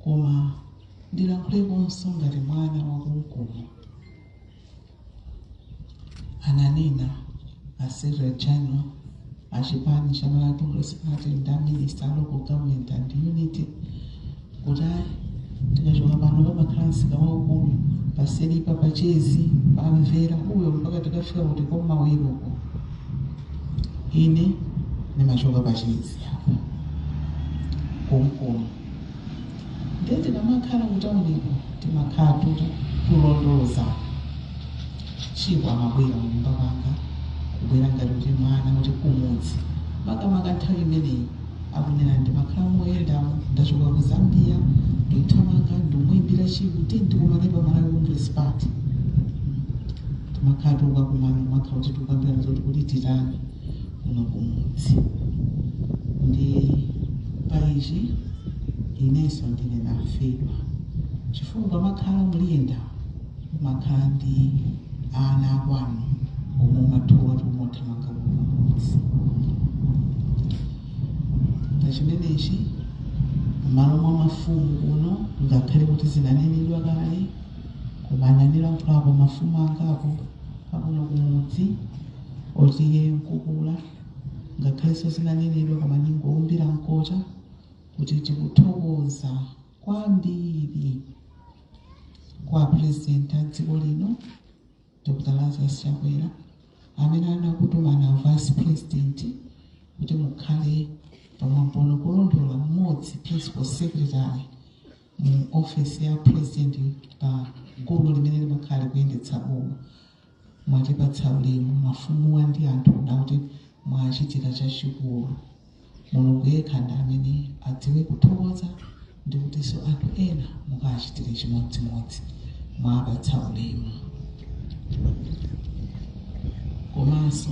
Speaker 1: koma ndilankhulekonso ngati mwana wakumudzi ananena a secretary general a chipani cha malawi congress party ndi a minister a local government and unity kuti ayi tikachoka pano pamakhala msika waukulu paselipa pachezi pamvera uyo mpaka tikafika kuti kumawiloko ine ndimachoka pachezi apa kumkomo ndiye tikamakhala kutauniko timakhala tikulondoza Chiko amabwera m'nyumba kwanga kubwera ngati kuti mwana wa kumudzi makamaka nthawi imeneyi akunena ndimakhala moyendamo ndachoka ku zambia ndithamanga ndimwimbira Chiko kuti tikumane pa malawi congress party timakhala tikukumana makhala kuti tikukambirana zoti kuti titani kuno kumudzi ndi paichi inenso ndine ndafedwa chifukwa pamakhala ukuyenda umakhala ndi ana akwanu omwe umadziwa kuti umathamanga kumudzi pa chimenechi mmalo mwa mafumu kuno ngakhale kuti zinanenedwa kale koma anandilankhulako mafumu angapo akuno kumudzi oti iyeyo wamkulu ngakhalenso zinanenedwa koma ndingoumbira mkota kuti tikuthokoza kwambiri kwa apurezidenti a dziko lino dr lazarus chakwera amene anakutumani vice president kuti mukhale pamwambono komanso mmodzi principal secretary mu ofesi ya president pa gulu limene limakhala likuyendetsa boma. Mwatipatsa ulemu mafumuwa ndi anthu ndakuti mwachita chachikulu. Mulungu yekha ndi amene adziwe kuthokoza ndi kutinso anthu ena mukawachitire chimodzimodzi. Mwawapatsa ulemu. Komanso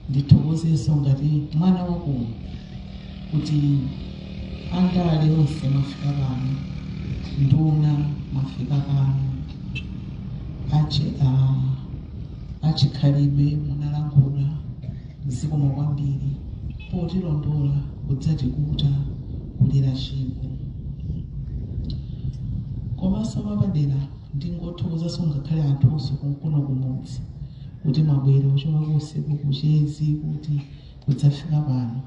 Speaker 1: ndithokozenso ngati mwana wakuno kuti. Andale onse mwafika pano, nduna mwafika pano, achi a achikhalidwe munalankhula zikomo kwambiri potilondola kudzatipukuta kulira chiko komanso mwapadera ndingothokozanso ngakhale anthu onse konkuno kumudzi kuti mwabwera kuchoka usiku kuchezi kuti kudzafika pano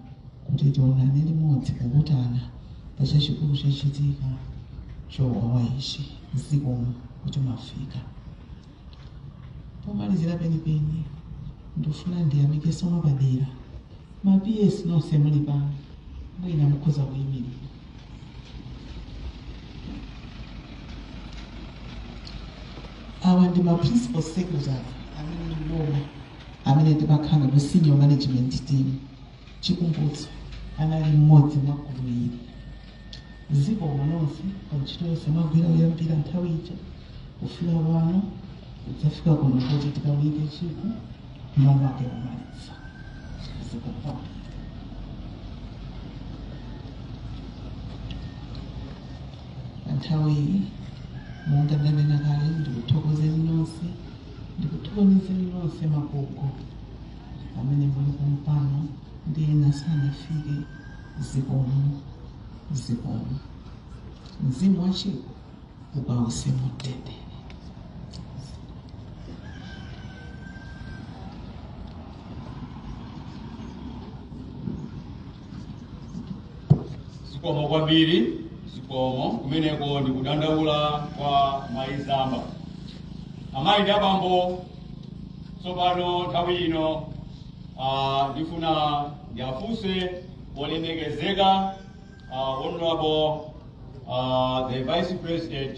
Speaker 1: kuti tionane limodzi kukutana pa chachikulu chochitika chowawa ichi zikomo kuti mwafika pomalizira penipeni ndifuna ndiyamikenso mwapadera ma ps nonse muli pano mwina mukhoza kuyimirira awa ndi ma principal secretary amene ndiboma amene timakhala nawo ku senior management team Chikumbutso anali mmodzi mwa gulu ili. Zikomo nonse pa ntchito yonse mwagwira kuyambira nthawi ija kufika pano kudzafika kuno kuti tikaunike chiku momake kumaliza. Zikomo kwambiri. Pa nthawi iyi monga ndanena kale ndikuthokozeni nonse ndikuthokozereninso magogo amene muli pompano ndi ena sanafike zikomo zikomo mzimu wa Chiku ukawuse mumtendere zikomo kwambiri zikomo kumeneko ndi kudandaula kwa mayi zamba amayi ndi abambo tsopano nthawi ino ah, ndifuna ndiwafunse olemekezeka ah, honorable ah, the vice president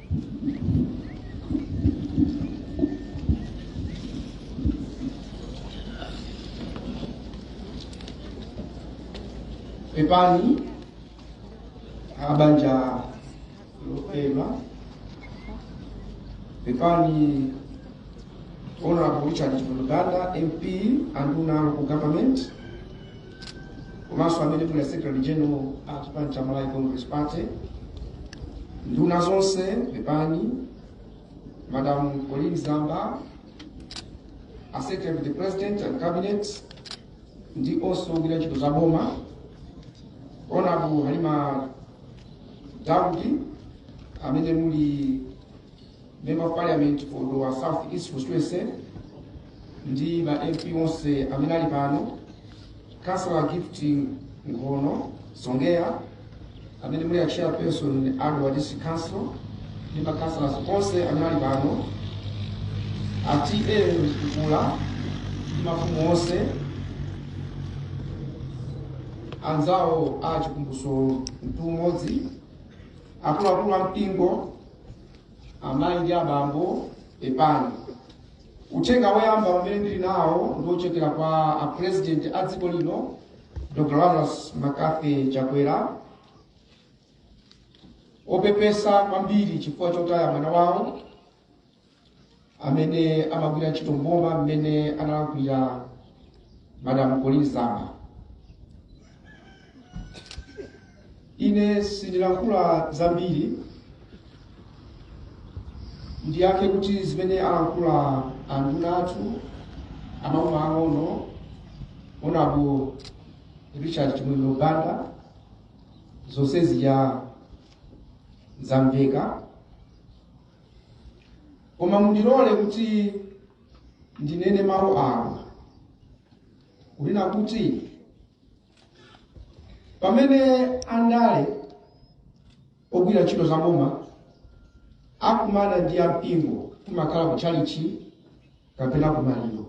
Speaker 1: pepani abanja lopema pepani honorable richard chipuluganda mp anduna local government komanso amene muli secretary general a chipani cha malawi congress party nduna zonse pepani madam Colleen zamba a secretary to the president and cabinet ndi onse ogwira ntchito za boma honorable Halima Daud amene muli member of parliament for Dowa South East constituency ndi ma MP onse amene ali pano Councillor Gift Nkhono Songea amene muli a chairperson a Dowa District Council ndi ma councillors onse amene ali pano a TA Mkukula ndi mafumu onse anzawo a chikumbutso Mtumodzi akuluakulu a mpingo Amayi ndi abambo, pepani. Uthenga woyamba umene ndili nawo ndi wochokera kwa a President a dziko lino Dr. Lazarus McCarthy Chakwera opepesa kwambiri chifukwa chotaya mwana wawo amene amagwira ntchito mboma mmene analankhulira madam Colleen Zamba ine sindilankhula zambiri ndiyakhe kuti zimene alankhula anduna athu a maboma ang'ono onabo richard chimwemwe banda zonse zija zamveka koma mundilole kuti ndinene mawu awa kunena kuti pamene andale ogwira ntchito zaboma akumana ndi ampingo kumakhala ku tchalichi kapena ku maliro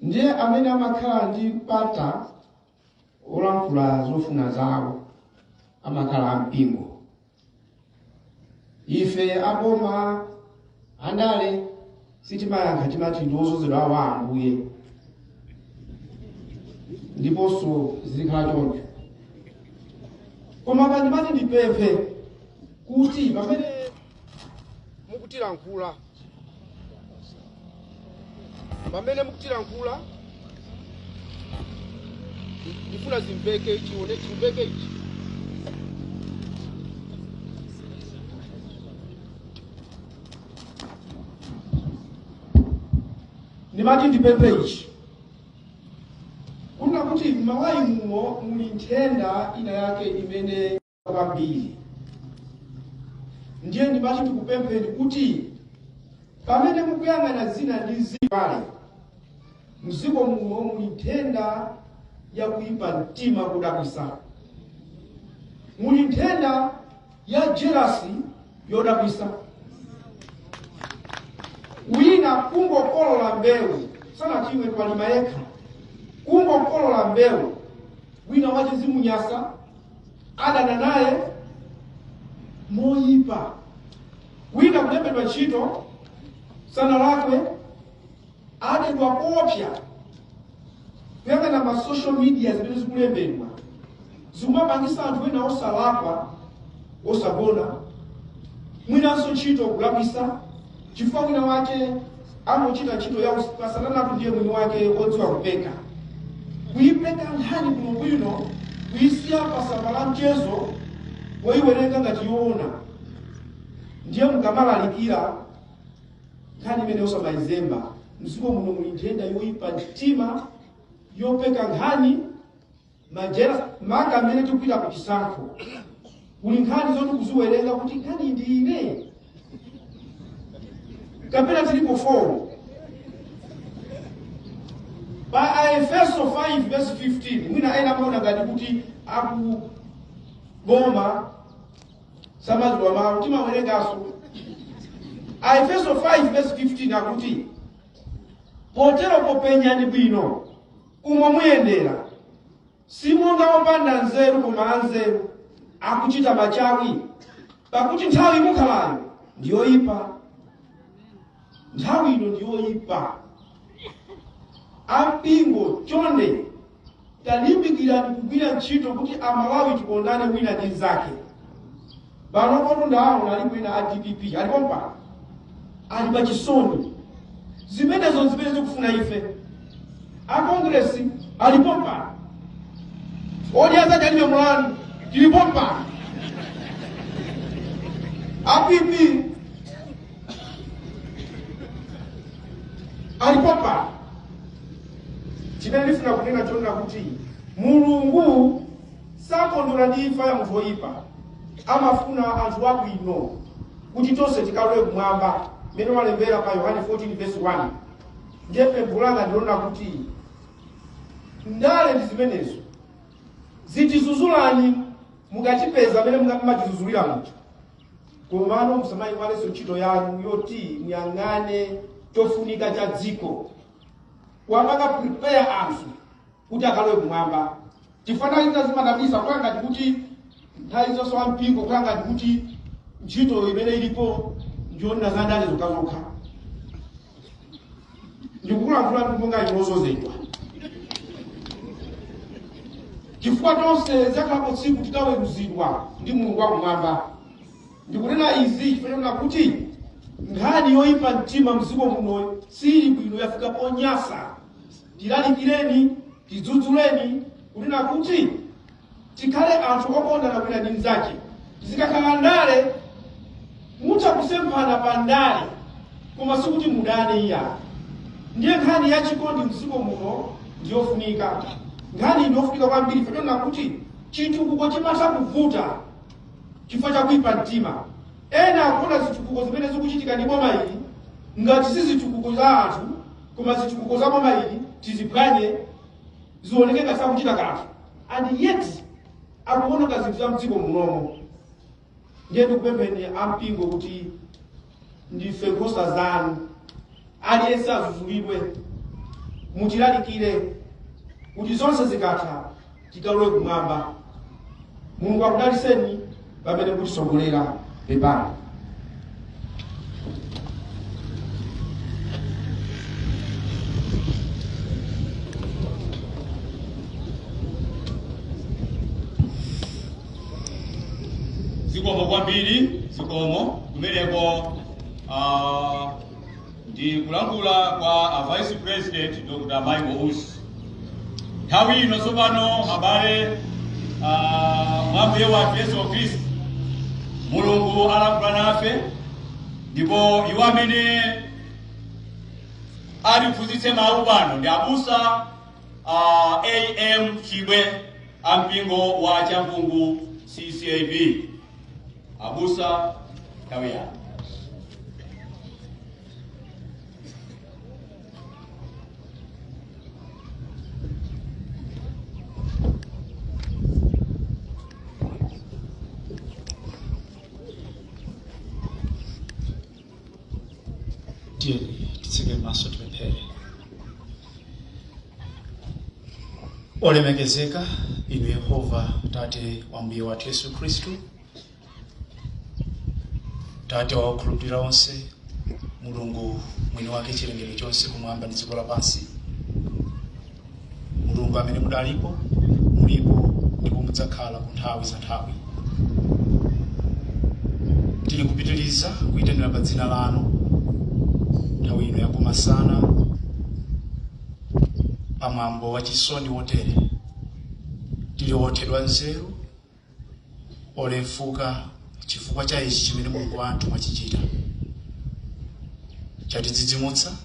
Speaker 1: ndiye amene amakhala ndi mpata olankhula zofuna zawo amakhala ampingo ife aboma andale sitimayankha timati ndi odzozedwa a ambuye ndiponso zizikhala choncho koma pa ndimati ndipemphe kuti pamene mukutilankhula pamene mukutilankhula ndifuna zimveke ichi one chimveke ichi ndimati ndipemphe ichi kunena kuti m'Malawi muno muli nthenda ina yake imene kwambiri ndiye ndimati ndikupempheni kuti pamene mukuyang'ana zina ndi ndale mdziko muno muli nthenda ya kuyipa mtima kodabwitsa muli nthenda ya jelasi yodabwitsa wina kungokolola mbewu sanachimwe walima yekha kungokolola mbewu wina wachizimunyasa adana naye moyipa wina kulembedwa ntchito sanalakwe adedwa koopsa kuyang'ana ma social media zimene zikulembedwa zikumapangisa anthu ena osalakwa osagona mwinanso ntchito kulakwisa chifukwa mwina wake amuchita ntchito ya usipasananatu ndiye mwini wake odziwa kupeka kuyipeka nkhani bwinobwino kuyisiya pasamba la mchezo oyiwerenga ngati yoona ndiye mukamalalikira nkhani imeneyo osamayizemba mdziko muno muli nthenda yoyipa mtima yopeka nkhani makamaka mmene tikupita ku chisankho kuli nkhani zoti kuziwerenga kuti nkhani ndi izi kapena zilipo 4 pa aefeso 5 verse 15 mwina ena amaona ngati kuti akuboma samadziwa mawu timawerenganso aefeso 5 verse 15 akuti potero popenyani bwino umo muyendera si monga opanda nzeru koma anzeru akuchita machawi pakuti nthawi imene mukhalayo ndi yoyipa nthawi ino ndi yoyipa ampingo chonde talimbikirani kugwira ntchito kuti amalawi tikondane wina ndi mnzake pano kotu ndawo nali kwina a dpp alipo mpaka ali pa chisoni zimenezo ndi zimene zikufuna ife a kongresi alipo mpaka odi azati alibe mulani tilipo mpaka a pp alipo mpaka chimene ndikufuna kunena chonena kuti mulungu sakondwera ndi imfa ya munthu woyipa amafuna anthu abwino kuti tonse tikalowe kumwamba mmene walembera pa yohane 14 verse 1 ndiye pempho langa ndi lonena kuti ndale ndi zimenezo zitidzudzulani mukatipeza mmene mumatidzudzulira muja komano musamayiwalenso ntchito yanu yoti muyang'ane chofunika cha dziko kuwapanga prepare anthu kuti akalowe kumwamba chifukwa nthawi zina zimadabwitsa kukhala ngati kuti nthawi zonse wa mpingo kukhala ngati kuti ntchito imene ilipo ndiyonena za ndale zokhazokha ndikukulankhula ndi monga inu odzodzedwa chifukwa tonse lidzakhalapo tsiku titaweruzidwa ndi mulungu wakumwamba ndikunena izi chifukwa chonena kuti nkhani yoyipa mtima mdziko muno sili bwino yafika ponyasa tilalikireni tidzudzuleni kunena kuti tikhale anthu okondana wina ndi mnzake zikakhala ndale mutha kusemphana pa ndale koma sikuti mudane iya ndiye nkhani ya chikondi mdziko muno ndiyofunika nkhani ndiyofunika kwambiri chifukwa chonena kuti chitukuko chimatha kuvuta chifukwa cha kuipa mtima ena akufuna zitukuko zimene zikuchitika ndi boma ili ngati si zitukuko za anthu koma zitukuko za boma ili tiziphwanye zioneke ngati sakuchita kanthu and yet akuononga zinthu za mdziko muno ndiye ndikupempheni ampingo kuti ndife nkhosa zanu aliyense adzudzulidwe mutilalikire kuti zonse zikatha tikalowe kumwamba mulungu akudaliseni pamene mukutitsogolera pepani zikomo kwambiri zikomo kumeneko ah, ndi kulankhula kwa a vice president dr michael usi nthawi ino tsopano abale mwa mbuye wathu yesu khristu mulungu alankhula nafe ndipo iwo amene atiphunzitse mawu ano ndi abusa ah, am chibwe a mpingo wa chankhungu ccab abusa nthawi yanu tiyeni titseke maso tipemphere olemekezeka inu yehova tate wa mbuye wathu yesu khristu tate wa okhulupirira onse mulungu mwini wake chilengedwe chonse kumwamba ndi dziko lapansi mulungu amene mudalipo mulipo ndipo mudzakhala ku nthawi za nthawi tili kupitiriza kuyitanira pa dzina lanu nthawi ino yakumasana pamwambo wa chisoni wotere tili othedwa nzeru olefuka chifukwa cha ichi chimene mulungu wathu mwachichita chatidzidzimutsa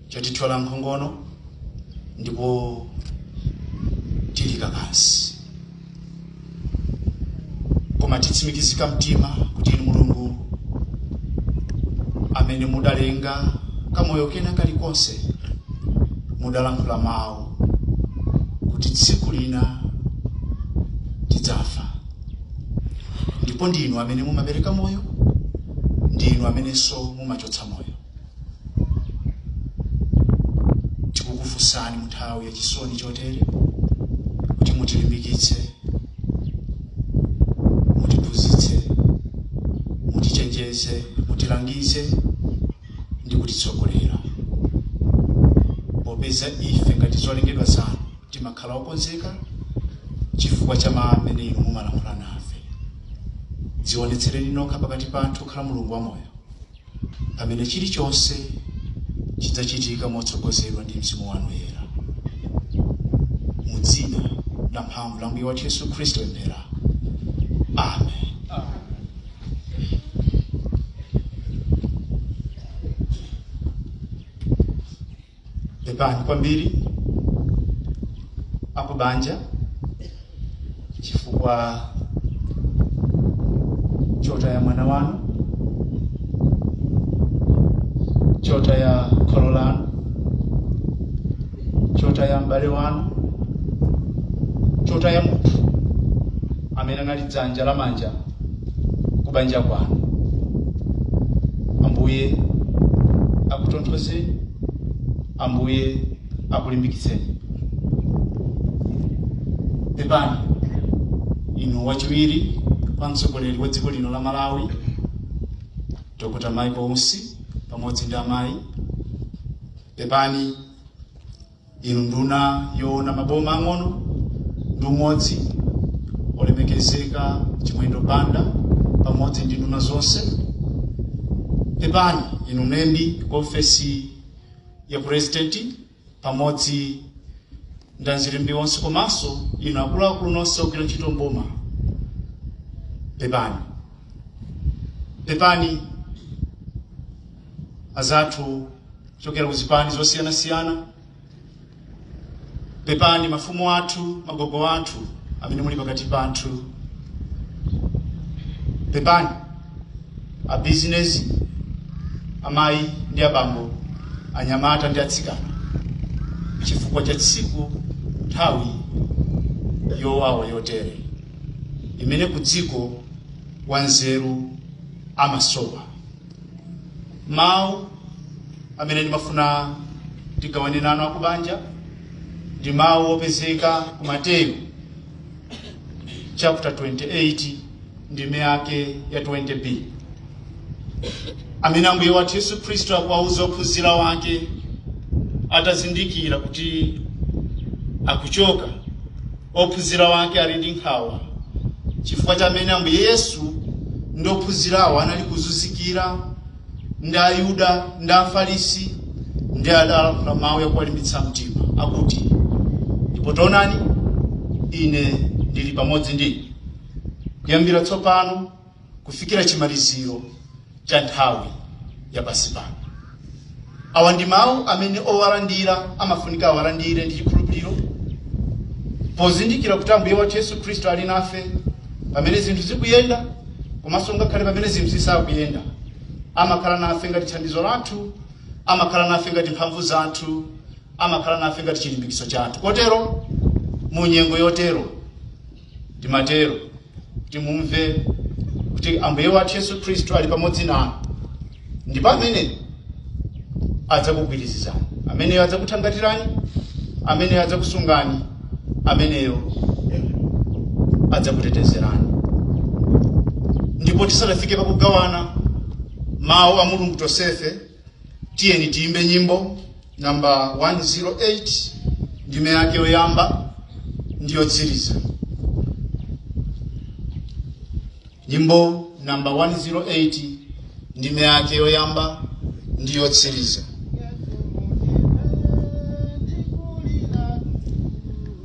Speaker 1: chatithyola nkhongono ndipo tili kakasi koma titsimikizika mtima kuti inu mulungu amene mudalenga kamoyo kena kalikonse mudalankhula mawu kuti tsiku lina tidzafa ndipo ndi inu amene mumapereka moyo ndi inu amenenso mumachotsa moyo tikukufunsani munthawi ya chisoni chotere kuti mutilimbikitse mutiphunzitse mutichenjeze mutilangize ndi kutitsogolera. Popeza ife ngati zolengedwa zanu timakhala okonzeka chifukwa cha mawu amene inu mumalankhula nafe, dzionetsereni nokha pakati pathu kukhala Mulungu wamoyo, pamene chilichonse chidzachitika motsogozedwa ndi mzimu wanu woyera. Mu dzina la mphamvu la Ambuye wathu Yesu Khristu tapemphera. Amen. pepani kwambiri akubanja chifukwa chotaya mwana wanu chotaya kholo lanu chotaya m'bale wanu chotaya munthu amene anali dzanja lamanja kubanja kwanu ambuye akutonthozeni ambuye akulimbikitseni pepani inu wachiwiri kwa mtsogoleri wa dziko lino la malawi dr michael usi pamodzi ndi amayi pepani Inu nduna yoona maboma ang'ono ndi umodzi, olemekezeka Chimwendo Banda pamodzi ndi nduna zonse, pepani inu mlembi ku ofesi ya purezidenti pamodzi ndi azilembi onse komanso inu akuluakulu nonse ogwira ntchito mboma, pepani pepani azathu kuchokera ku zipani zosiyanasiyana pepani mafumu athu magogo athu amene muli pakati pathu pepani a bizinesi amayi ndi abambo anyamata ndi atsikana chifukwa cha tsiku nthawi yowawa yotere imene kudziko wanzeru amasowa mawu amene ndimafuna tigawane nanu akubanja ndi mawu opezeka ku mateyu chapter 28 ndime yake ya 20b amene ambuye wathu yesu khristu akuwauza ophunzira wake atazindikira kuti akuchoka Ophunzira wake ali ndi nkhawa chifukwa cha mmene Ambuye Yesu ndi ophunzirawo anali kuzunzikira ndi Ayuda ndi Afarisi, ndiye adalankhula mau yakuwalimbitsa mtima akuti, Ndipo taonani, Ine ndili pamodzi ndi inu kuyambira tsopano. kufikira chimaliziro cha nthawi ya pansi pano awa ndi mawu amene owalandira amafunika awalandire ndi chikhulupiriro pozindikira kuti ambuye wathu yesu khristu ali nafe pamene zinthu zikuyenda komanso ngakhale pamene zinthu zisakuyenda amakhala nafe ngati thandizo lathu amakhala nafe ngati mphamvu zathu amakhala nafe ngati chilimbikitso chathu kotero mu nyengo yotero Timatero kuti mumve kuti Ambuye wathu Yesu Khristu ali pamodzi nanu, ndipo amene adzakugwirizizani, ameneyo adzakuthangatirani, ameneyo adzakusungani, ameneyo adzakutetezerani. Ndipo tisanafike pakugawana mawu a Mulungu tonsefe tiyeni tiyimbe nyimbo namba 108 ndime yake yoyamba ndi yotsiriza nyimbo namba 108 ndime yake yoyamba ndi yotsiriza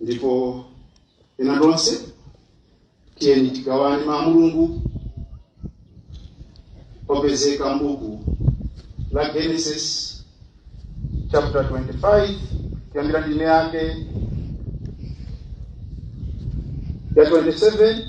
Speaker 1: ndipo ena tonse tiyeni tigawane mawu a mulungu opezeka mbuku la genesis chapter 25 kuyambira ndime yake ya 27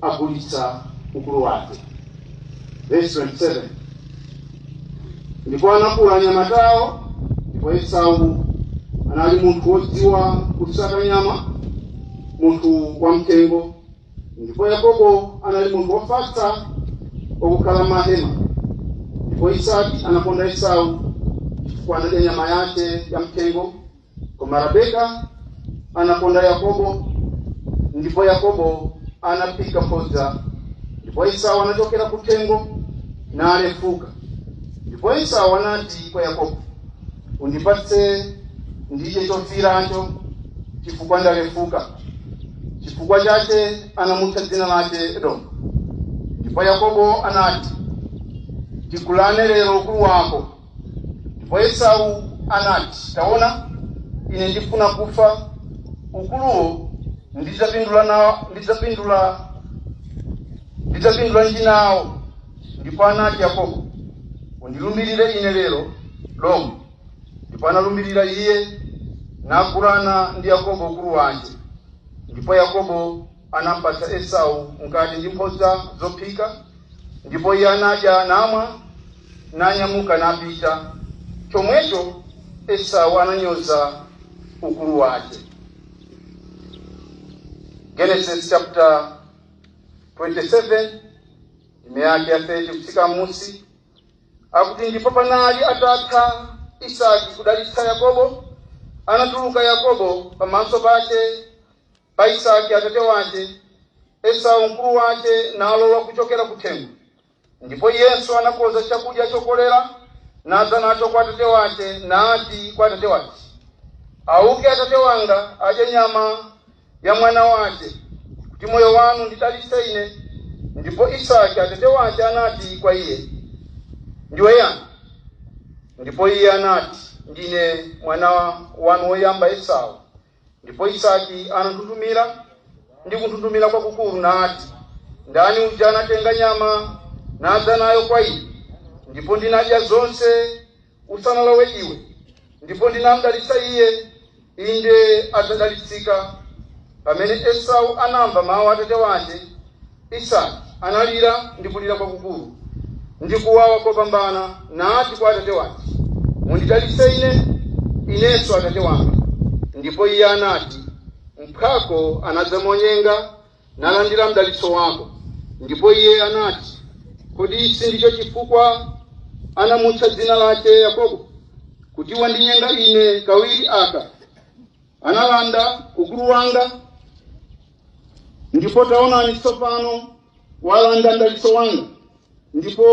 Speaker 1: agulitsa ukulu wake. Verse 27. Ndipo anakula anyamatawo, ndipo Esau anali munthu wodziwa kusaka nyama, munthu wam'thengo, ndipo Yakobo anali munthu wofatsa wakukhala m'mahema. Ndipo Isaki anakonda Esau chifukwa anadya nyama yake yam'thengo Koma Rabeka anakonda Yakobo, ndipo Yakobo anaphika mphodza, ndipo Esau anachokera kuthengo nalefuka. Ndipo Esau anati kwa Yakobo, Undipatse ndidye chofiiracho, chifukwa ndalefuka. Chifukwa chache anamutcha dzina lache Edomu. Ndipo Yakobo anati, Tigulane lero ukulu wako Ndipo Esau anati, Taona, ine ndifuna kufa, ukuluwo ndidzapindula nawo, ndidzapindula ndidzapindulanji nawo. Ndipo anati Yakobo, undilumbirire ine lero lomwe. Ndipo analumbirira iye, nagulana ndi Yakobo ukulu wake. Ndipo Yakobo anampatsa esau mkate ndi mphodza zophika ndipo iye anadya namwa nanyamuka napita chomwecho esau ananyoza ukulu wake genesis chapter 27 ndime yake ya 30 kufika mmusi akuti ndipo panali atatha isaki kudalitsa yakobo anatuluka yakobo pamaso pake Pa Isaki atate wace, Esau mkuru wace nalowa kucokera kuthengo, ndipo iyenso anakonza cakudya cokolera, nadza naco kwa atate wace, nati kwa atate wace, Auke atate wanga, adye nyama ya mwana wace, kuti moyo wanu undidalitse ine. Ndipo Isaki atate wace anati kwa iye, Ndiwe yani? Ndipo iye anati, Ndine mwana wanu woyamba Esau. Ndipo Isaki ananthunthumira ndi kunthunthumira kwakukuru, nati, Ndani uja anatenga nyama nadza nayo kwa ine, ndipo ndinadya zonse usanalowe iwe? Ndipo ndinamdalitsa iye, inde adzadalitsika. Pamene Esau anamva mau a atate wace. Isaki analira ndi kulira kwakukulu ndi kuwawa kopambana, nati kwa atate wace, Mundidalitse ine, inenso, atate wanga. Ndipo iye anati, Mphwako anadza monyenga, nalandira mdalitso wako. Ndipo iye anati, Kodi ici ndico cifukwa anamutcha dzina lace Yakobo? Kuti wandinyenga ine kawiri aka? analanda ukulu wanga ndipo taonani tsopano walanda mdalitso wanga ndipo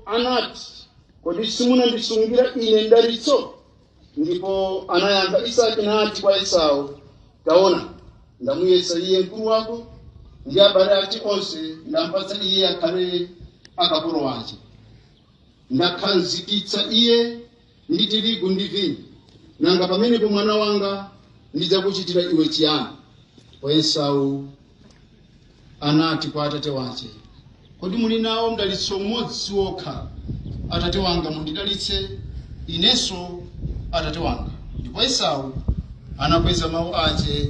Speaker 1: anati kodi simunandisungira ine mdalitso ndipo anayankha isaki nati kwa esau taona ndamuyesa iye mkulu wako ndi abale ake onse ndampatsa iye akhale akapolo ake ndamkhazikitsa iye ndi tirigu ndi vinyo, nanga pamenepo mwana wanga ndidzakuchitira iwe chiyani? Ndipo Esau anati kwa atate wace, kodi muli nawo mdalitso umodzi wokha? Atate wanga mundidalitse inenso atate wanga. Ndipo Esau anakweza mawu ace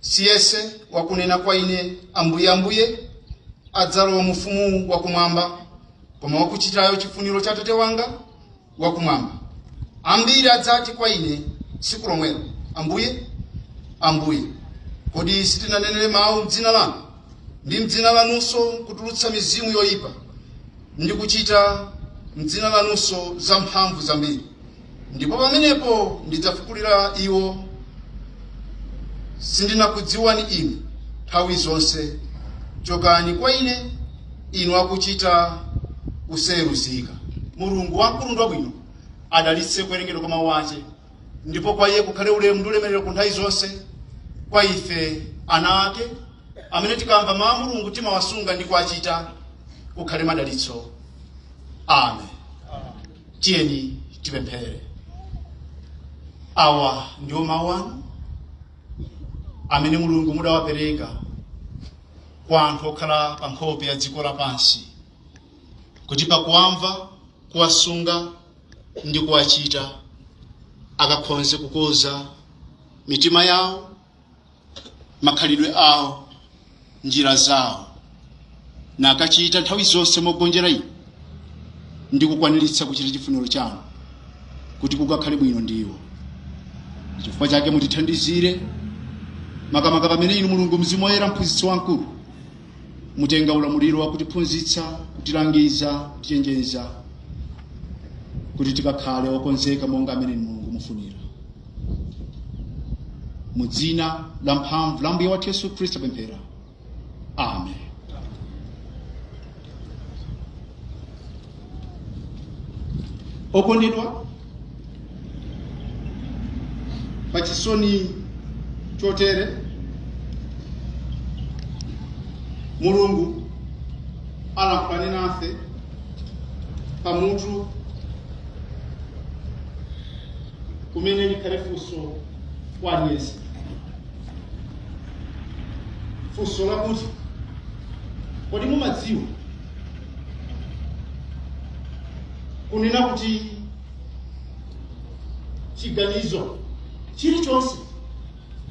Speaker 1: si yense wakunena kwa ine ambuye ambuye adzalowa mu ufumu wakumwamba koma wakuchitayo chifuniro cha atate wanga wakumwamba ambiri adzati kwa ine tsiku lomwelo ambuye ambuye kodi sitinanenere mawu mdzina lanu ndi mdzina lanunso kutulutsa mizimu yoyipa ndi kuchita mdzina lanunso zamphamvu zambiri Ndipo pamenepo ndidzafulukira iwo, Sindinakudziwani inu nthawi zonse, chokani kwa ine, inu akuchita kusayeruzika. Mulungu wamkulu ndi wabwino adalitse kuwerengedwa kwa mawu ake, ndipo kwa iye kukhale ulemu ndi ulemerero ku nthawi zonse, kwa ife ana ake, amene tikamva mawu a Mulungu timawasunga ndi kuwachita, kukhale madalitso. Amen. Tiyeni tipemphere. Awa ndiwo mawu anu amene Mulungu mudawapereka kwa anthu okhala pa nkhope ya dziko lapansi, kuti pakuwamva, kuwasunga ndi kuwachita akakhonze kukonza mitima yawo makhalidwe awo njira zawo nakachita nthawi zonse mogonjera inu ndi kukwaniritsa kuchita chifuniro chanu kuti kukakhale bwino ndi iwo chifukwa chake mutithandizire makamaka pamene inu mulungu mzimu woyera mphunzitsi wamkulu mutenga ulamuliro wa kutiphunzitsa kutilangiza kutichenjeza kuti tikakhale okonzeka monga amene inu mulungu mufunira mu dzina la mphamvu la ambuye wathu yesu khristu tapemphera amen okondedwa pa chisoni chotere mulungu alankhulane nase pamutu umene likhale funso kwa aliyense funso lakuti kodi mumadziwa kunena kuti chiganizo chilichonse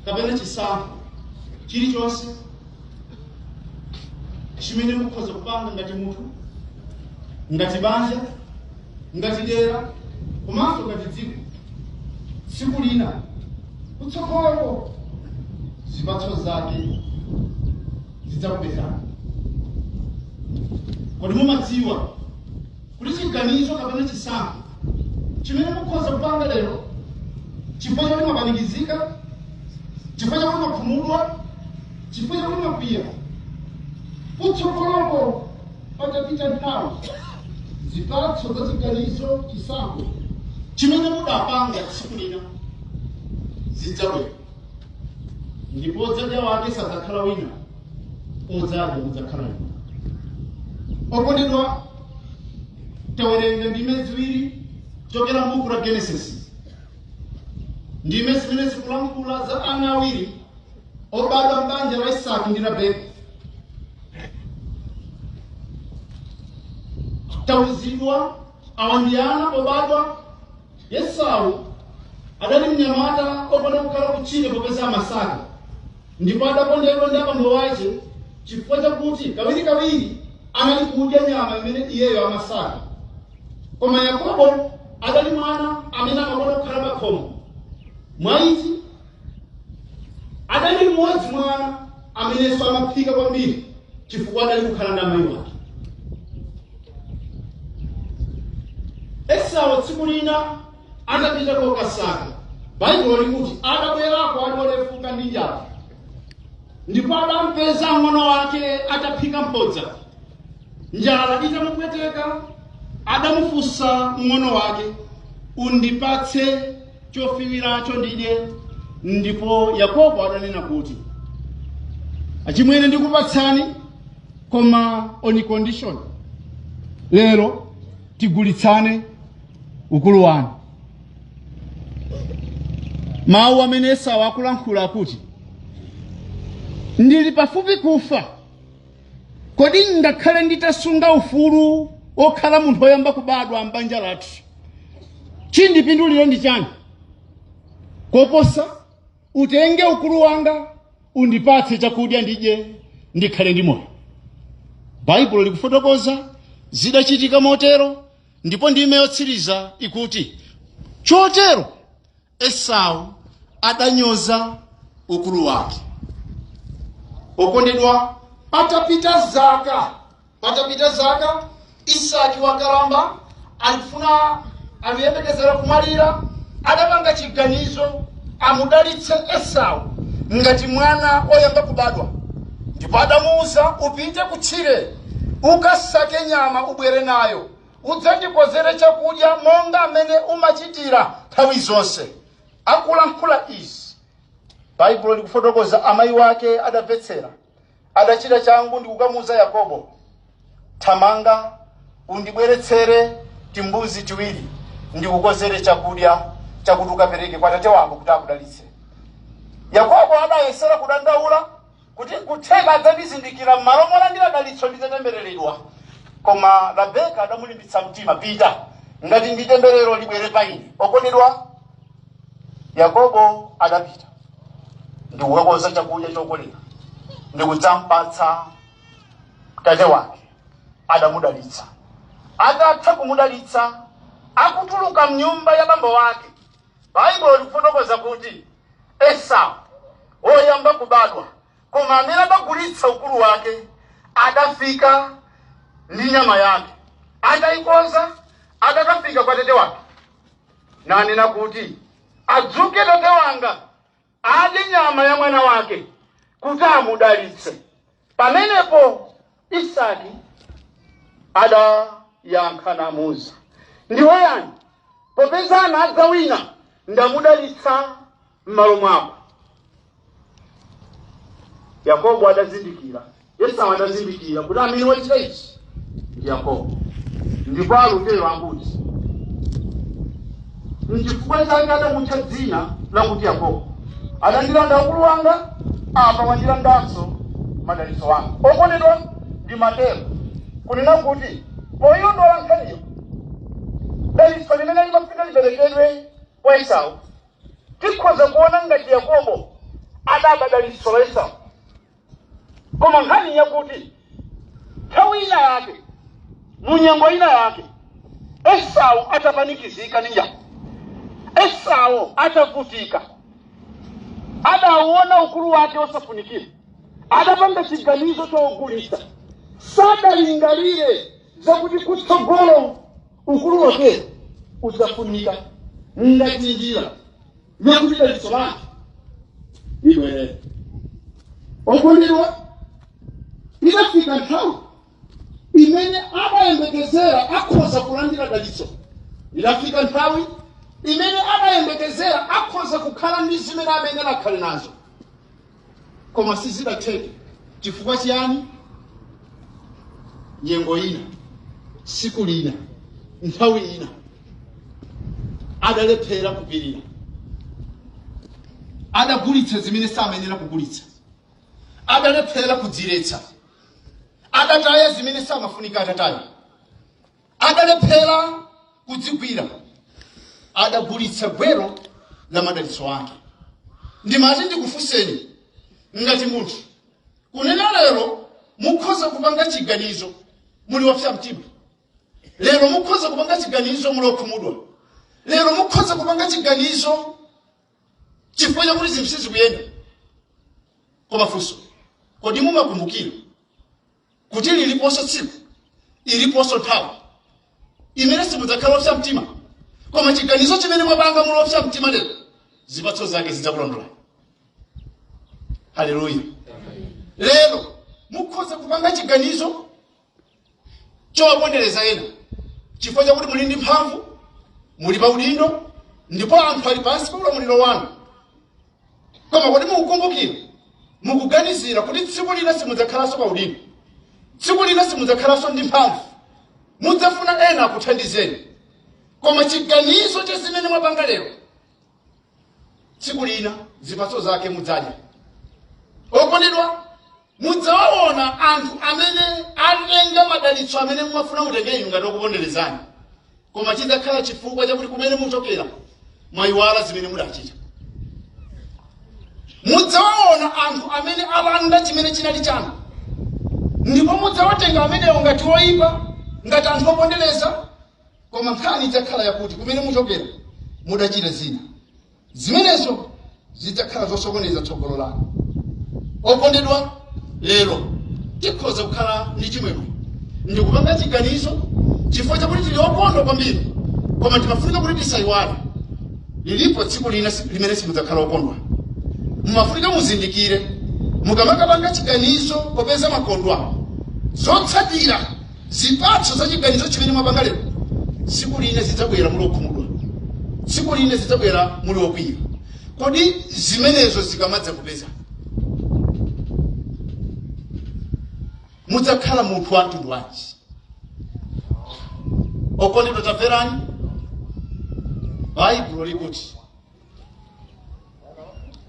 Speaker 1: kapena chisankho chilichonse chimene mukhoza kupanga ngati munthu ngati banja ngati dera komanso ngati dziko tsiku lina kutsogoloko zipatso zake zidzakupezani kodi mumadziwa kuti chiganizo kapena chisankho chimene mukhoza kupanga lero chifukwa chakuti mwapanikizika chifukwa chakuti mwakhumudwa chifukwa chakuti mwakwiya kutsogoloko patapita nthawi zipatso za chiganizo chisankho chimene mudapanga tsiku lina zidzabwera ndipo wodzadya wake sadzakhala wina wodzadya mudzakhala inu okondedwa tawerenga ndime ziwiri kuchokera m'buku la genesis ndime zimene zikulankhula za ana awiri obadwa m'banja la isaki ndi rabeka tauzidwa awa ndi ana obadwa Esau adali mnyamata okonda kukhala kutchire popeza amasaka ndipo adakondedwa ndi abambo wace chifukwa chakuti kawirikawiri anali kudya nyama imene iyeyo amasaka koma yakobo adali mwana amene amakonda kukhala pakhomo mwa ichi adali mmodzi mwa ana amenenso amaphika kwambiri chifukwa adali kukhala ndi amayi wake esau tsiku lina atapita kokasaka baibulo likuti atabwerako ali olefuka ndi njala ndipo adampeza mng'ono wake ataphika mphodza njala itamupweteka adamufunsa mng'ono wake undipatse chofiwiracho ndidye ndipo yakobo adanena kuti achimwene ndikupatsani koma on condition lero tigulitsane ukulu wanu mawu amene esau akulankhula akuti ndili pafupi kufa Kodi ngakhale nditasunga ufulu wokhala munthu oyamba kubadwa m'banja lathu, chindipindulira ndi chani? Koposa, utenge ukulu wanga, undipatse chakudya ndidye, ndikhale ndi moyo. Baibulo likufotokoza zidachitika motero ndipo ndime yotsiriza ikuti, Chotero Esau adanyoza ukulu wake. Okondedwa, patapita zaka patapita zaka Isaki wakalamba akufuna akuyembekezera kumwalira, adapanga chiganizo amudalitse Esau ngati mwana oyamba kubadwa, ndipo adamuuza upite kutchire ukasake nyama ubwere nayo Udzandikonzere chakudya monga mmene umachitira nthawi zonse. Akulankhula izi, Baibulo likufotokoza, amayi wake adamvetsera. Adachita changu ndi kukamuuza Yakobo, Thamanga undibweretsere timbuzi tiwiri, ndikukonzere chakudya chakuti ukapereke kwa tate wako kuti akudalitse. Yakobo adayesera kudandaula kuti nkutheka adzandizindikira, m'malo molandira dalitso nditatembereredwa. Koma Rabeka adamulimbitsa mtima, pita, ngati ndi temberero libwere pa ine. Okondedwa, Yakobo adapita ndi kukakonza chakudya chokoma ndi kudzampatsa tate wake. Adamudalitsa. Atatha kumudalitsa, akutuluka mnyumba ya bambo wake, Baibulo likufotokoza kuti, Esau, woyamba kubadwa, koma amene adagulitsa ukulu wake, adafika ndi nyama yake, ataikonza, adakafika kwa tate wake, nanena kuti, Adzuke tate wanga. adye nyama ya mwana wake kuti amudalitse. Pamenepo Isaki adayankha namuuza, ndiwe yani? Popeza anadza wina ndamudalitsa m'malo mwako. Yakobo adazindikira Esau adazindikira kuti amene wachita ichi ndi Yakobo, ndipo akulira akuti, Nchifukwa chake adamutcha dzina lakuti Yakobo. Adandilanda ukulu wanga, apa wandilandanso madalitso anga. Okondedwa, ndimatero kunena kuti poilondola nkhaniyo, dalitso limene limafika liperekedwe kwa Esau, tikhoza kuona ngati Yakobo adaba dalitso la Esau. koma nkhani yakuti nthawi ina yake mu nyengo ina yake esau atapanikizika ndi njala esau atavutika adauona ukulu wake wosafunikira adapanga chiganizo chogulitsa sadalingalire zakuti kutsogolo ukulu wake udzafunika ngati njira yakuti dalitso lake libwerere okondedwa idafika nthawi imene adayembekezera akhoza kulandira dalitso idafika nthawi imene adayembekezera akhoza kukhala ndi zimene akanadakhala nazo koma sizidatheke chifukwa chiyani nyengo ina siku lina nthawi ina adalephera kupirira adagulitsa zimene samayenera kugulitsa adalephera kudziletsa adataya zimene samafunika atataye Adalephera kudzigwira, adagulitsa gwero la madalitso ake. Ndimati ndikufunseni ngati munthu, kunena lero mukhoza kupanga chiganizo muli wopsa mtima, lero mukhoza kupanga chiganizo muli okhumudwa, lero mukhoza kupanga chiganizo chifukwa chakuti zinthu sizikuyenda. Koma funso, kodi mumakumbukira kuti liliponso tsiku iliponso nthawi imene simudzakhala opsa mtima koma chiganizo chimene mwapanga muli opsa mtima lero zipatso zake zidzakulondolani haleluya lero mukhoza kupanga chiganizo chowapondereza ena chifukwa chakuti muli ndi mphamvu muli pa udindo ndipo anthu ali pansi pa ulamuliro wanu koma kodi mukukumbukira mukuganizira kuti tsiku lina simudzakhalanso pa udindo tsiku lina simudzakhalanso ndi mphamvu mudzafuna ena akuthandizeni koma chiganizo cha zimene mwapanga lero tsiku lina zipatso zake mudzadya okondedwa mudzawaona anthu amene atenga madalitso amene mumafuna mutenge inu ngati okuponderezani koma chidzakhala chifukwa chakuti kumene muchokera mwayiwala zimene mudachita mudzawaona anthu amene alanda chimene chinali chanu ndipo mudzawatenga amenewo ngati oyipa ngati anthu opondereza koma nkhani idzakhala yakuti kumene muchokera mudachita zina zimenezo zidzakhala zosokoneza tsogolo lanu okondedwa lero tikhoza kukhala ndi chimwemwe ndikupanga chiganizo chifukwa chakuti tili okondwa kwambiri koma timafunika kuti tisayiwale lilipo tsiku lina si- limene simudzakhala okondwa mumafunika muzindikire mukamakapanga chiganizo popeza mwakondwa zotsatira Zipatso za chiganizo chimene mwapanga lero, tsiku lina zidzabwera muli okhumudwa, tsiku lina zidzabwera muli okwiya. Kodi zimenezo zikamadzakupezani, mudzakhala munthu wa mtundu wanji? Okondedwa, tamverani, Baibulo likuti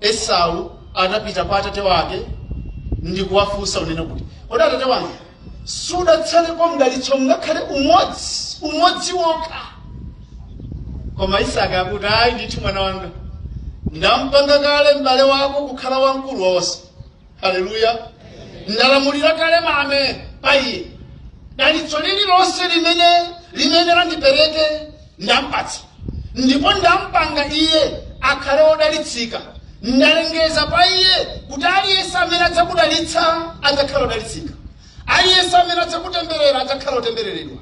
Speaker 1: esau adapita kwa atate wake ndi kuwafunsa kunena kuti kodi atate wanga sudatsalepo mdalitso ngakhale umodzi umodzi wokha koma isaki akuti ayi ndithu mwana wanga ndampanga kale m'bale wako kukhala wamkulu wonse haleluya ndalamulira kale mame pa iye dalitso lililonse limene limene ndipereke ndampatsa ndipo ndampanga iye akhale wodalitsika ndalengeza pa iye kuti aliyense amene adzakudalitsa adzakhala wodalitsika aliyense amene adzakutemberera adzakhala wotembereredwa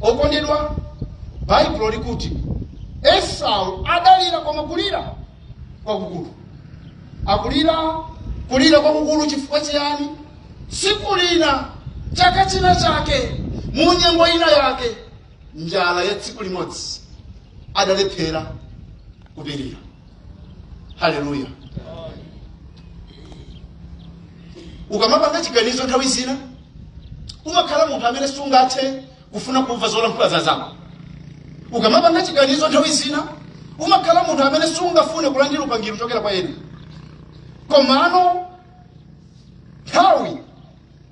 Speaker 1: Okondedwa, Baibulo likuti Esau adalira koma kulira kwakukulu. Akulira kulira kwakukulu chifukwa chiyani? Tsiku lina, chaka china chake, mu nyengo ina yake, njala ya tsiku limodzi adalephera kupirira. haleluya ukamapanga chiganizo nthawi zina umakhala munthu amene sungathe kufuna kumva zolankhula za anzako ukamapanga chiganizo nthawi zina umakhala munthu amene sungafune kulandira upangiri kuchokera kwa ena komano nthawi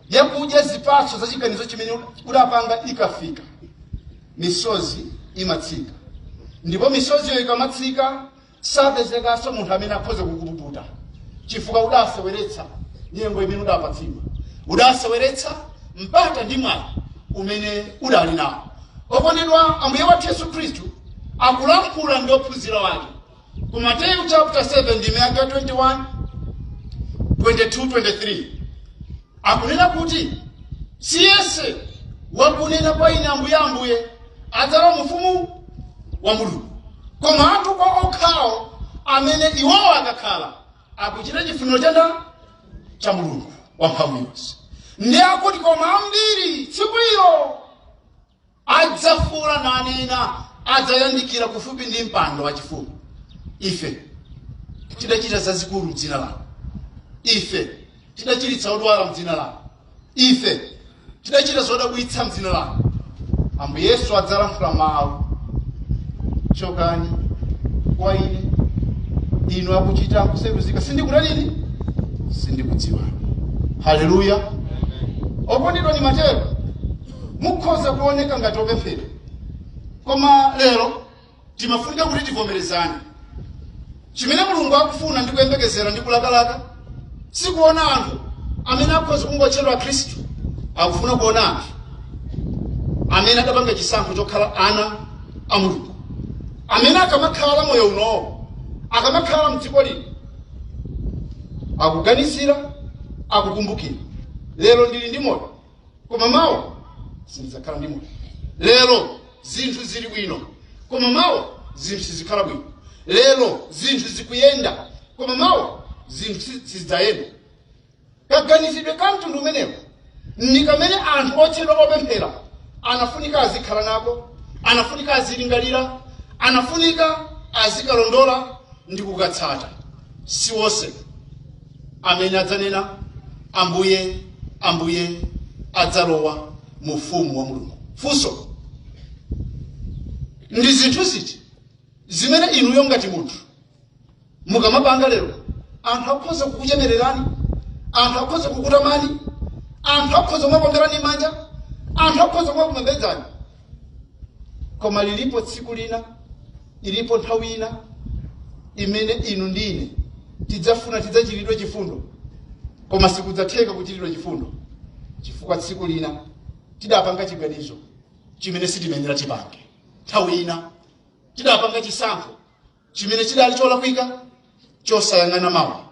Speaker 1: yakudya zipatso za chiganizo chimene udapanga ikafika misozi imatsika ndipo misoziyo ikamatsika sapezekanso munthu amene akhoza kukupukuta chifukwa udaseweretsa nyengo imene udapatsidwa udaseweretsa mpata ndi mwayi umene udali nawo okondedwa ambuye wathu yesu khristu akulankhula ndi ophunzira ake Ku Mateyu chapter 7 ndime yake ya 21, 22, 23 akunena kuti si yense wakunena kwa ine ambuye ambuye adzalowa mu ufumu wa mulungu koma anthu okhawokhawo amene iwowo akakhala akuchita chifuniro cha ndani cha mulungu wamphamvu yonse ndiye akuti koma ambiri tsiku ilo adzafuula nanena adzayandikira kufupi ndi mpando wachifumu ife tidachita zazikulu mdzina lanu ife tidachiritsa odwala mdzina lanu ife tidachita zodabwitsa mdzina lanu ambuye yesu adzalankhula mawu chokani kwa ine inu akuchita kusayeruzika sindikutanini sindikudziwani haleluya okondedwa ni matero mukhoza kuoneka ngati opemphera koma lero timafunika kuti tivomerezane chimene mulungu akufuna ndi kuyembekezera ndi kulakalaka sikuona anthu amene akhoza kungotchedwa akhristu akufuna kuona anthu amene adapanga chisankho chokhala ana a mulungu amene akamakhala moyo unowo akamakhala mdziko lino akuganizira akukumbukira lero ndili ndi moyo koma mawa sindidzakhala ndi moyo lero zinthu zili bwino koma mawa zinthu sizikhala bwino lero zinthu zikuyenda koma mawa zinthu si- sizidzayenda kaganizidwe ka mtundu umenewu ndi kamene anthu otchedwa opemphera anafunika azikhala nako anafunika azilingalira anafunika azikalondola ndi kukatsata si wonse amene adzanena ambuye ambuye adzalowa mu ufumu wa mulungu funso ndi zinthu ziti zimene inuyo ngati munthu mukamapanga lero anthu akhoza kukuchemererani anthu akhoza kukutamani anthu akhoza kumakuomberani manja anthu akhoza kumakupembedzani koma lilipo tsiku lina ilipo nthawi ina imene inu ndi ine tidzafuna tidzachitiridwe chifundo koma sikudzatheka kuchitiridwa chifundo chifukwa tsiku lina tidapanga chiganizo chimene sitimayenera tipange nthawi ina tidapanga chisankho chimene chidali cholakwika chosayang'ana mawa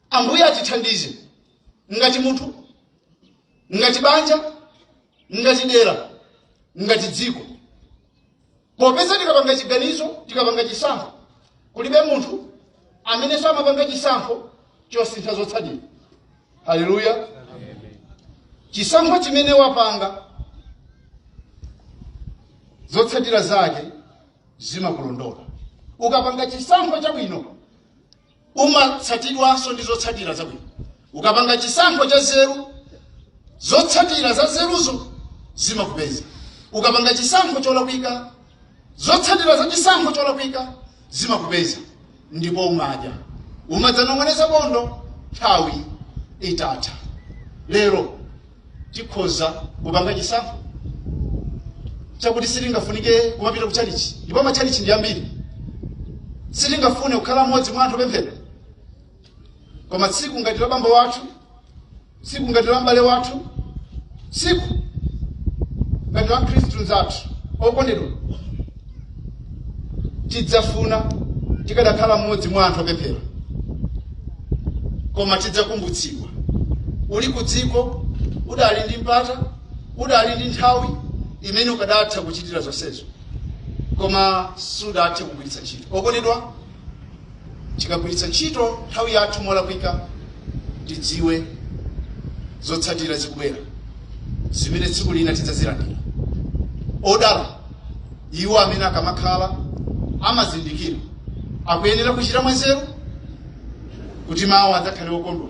Speaker 1: ambuye atithandize ngati munthu ngati banja ngati dera ngati dziko popeza tikapanga chiganizo tikapanga chisankho kulibe munthu amene samapanga chisankho osasintha zotsatira haleluya chisankho chimene wapanga zotsatira zake zimakulondola ukapanga chisankho chabwino umatsatidwanso ndi zotsatira zabwino ukapanga chisankho cha nzeru zotsatira za nzeruzo zimakupeza ukapanga chisankho cholakwika zotsatira za chisankho cholakwika zimakupeza ndipo umadya umadzanong'oneza bondo nthawi itatha lero tikhoza kupanga chisankho chakuti sitingafunike kumapita ku chalichi ndipo machalichi ndi ambiri sitingafune kukhala mmodzi mwa anthu opemphera koma tsiku ngati la bambo wathu tsiku ngati la m'bale wathu tsiku ngati la mkhristu mzathu okondedwa tidzafuna tikadakhala mmodzi mwa anthu opemphera koma tidzakumbutsidwa uli ku dziko udali ndi mpata udali ndi nthawi imene ukadatha kuchitira zonsezo koma sudathe kugwiritsa ntchito okondedwa Tikagwiritsa ntchito nthawi yathu molakwika, tidziwe zotsatira zikubwera zimene tsiku lina tidzazilandira. Odala iwo amene akamakhala amazindikira, akuyenera kuchita mwanzeru kuti mawa adzakhale okondwa.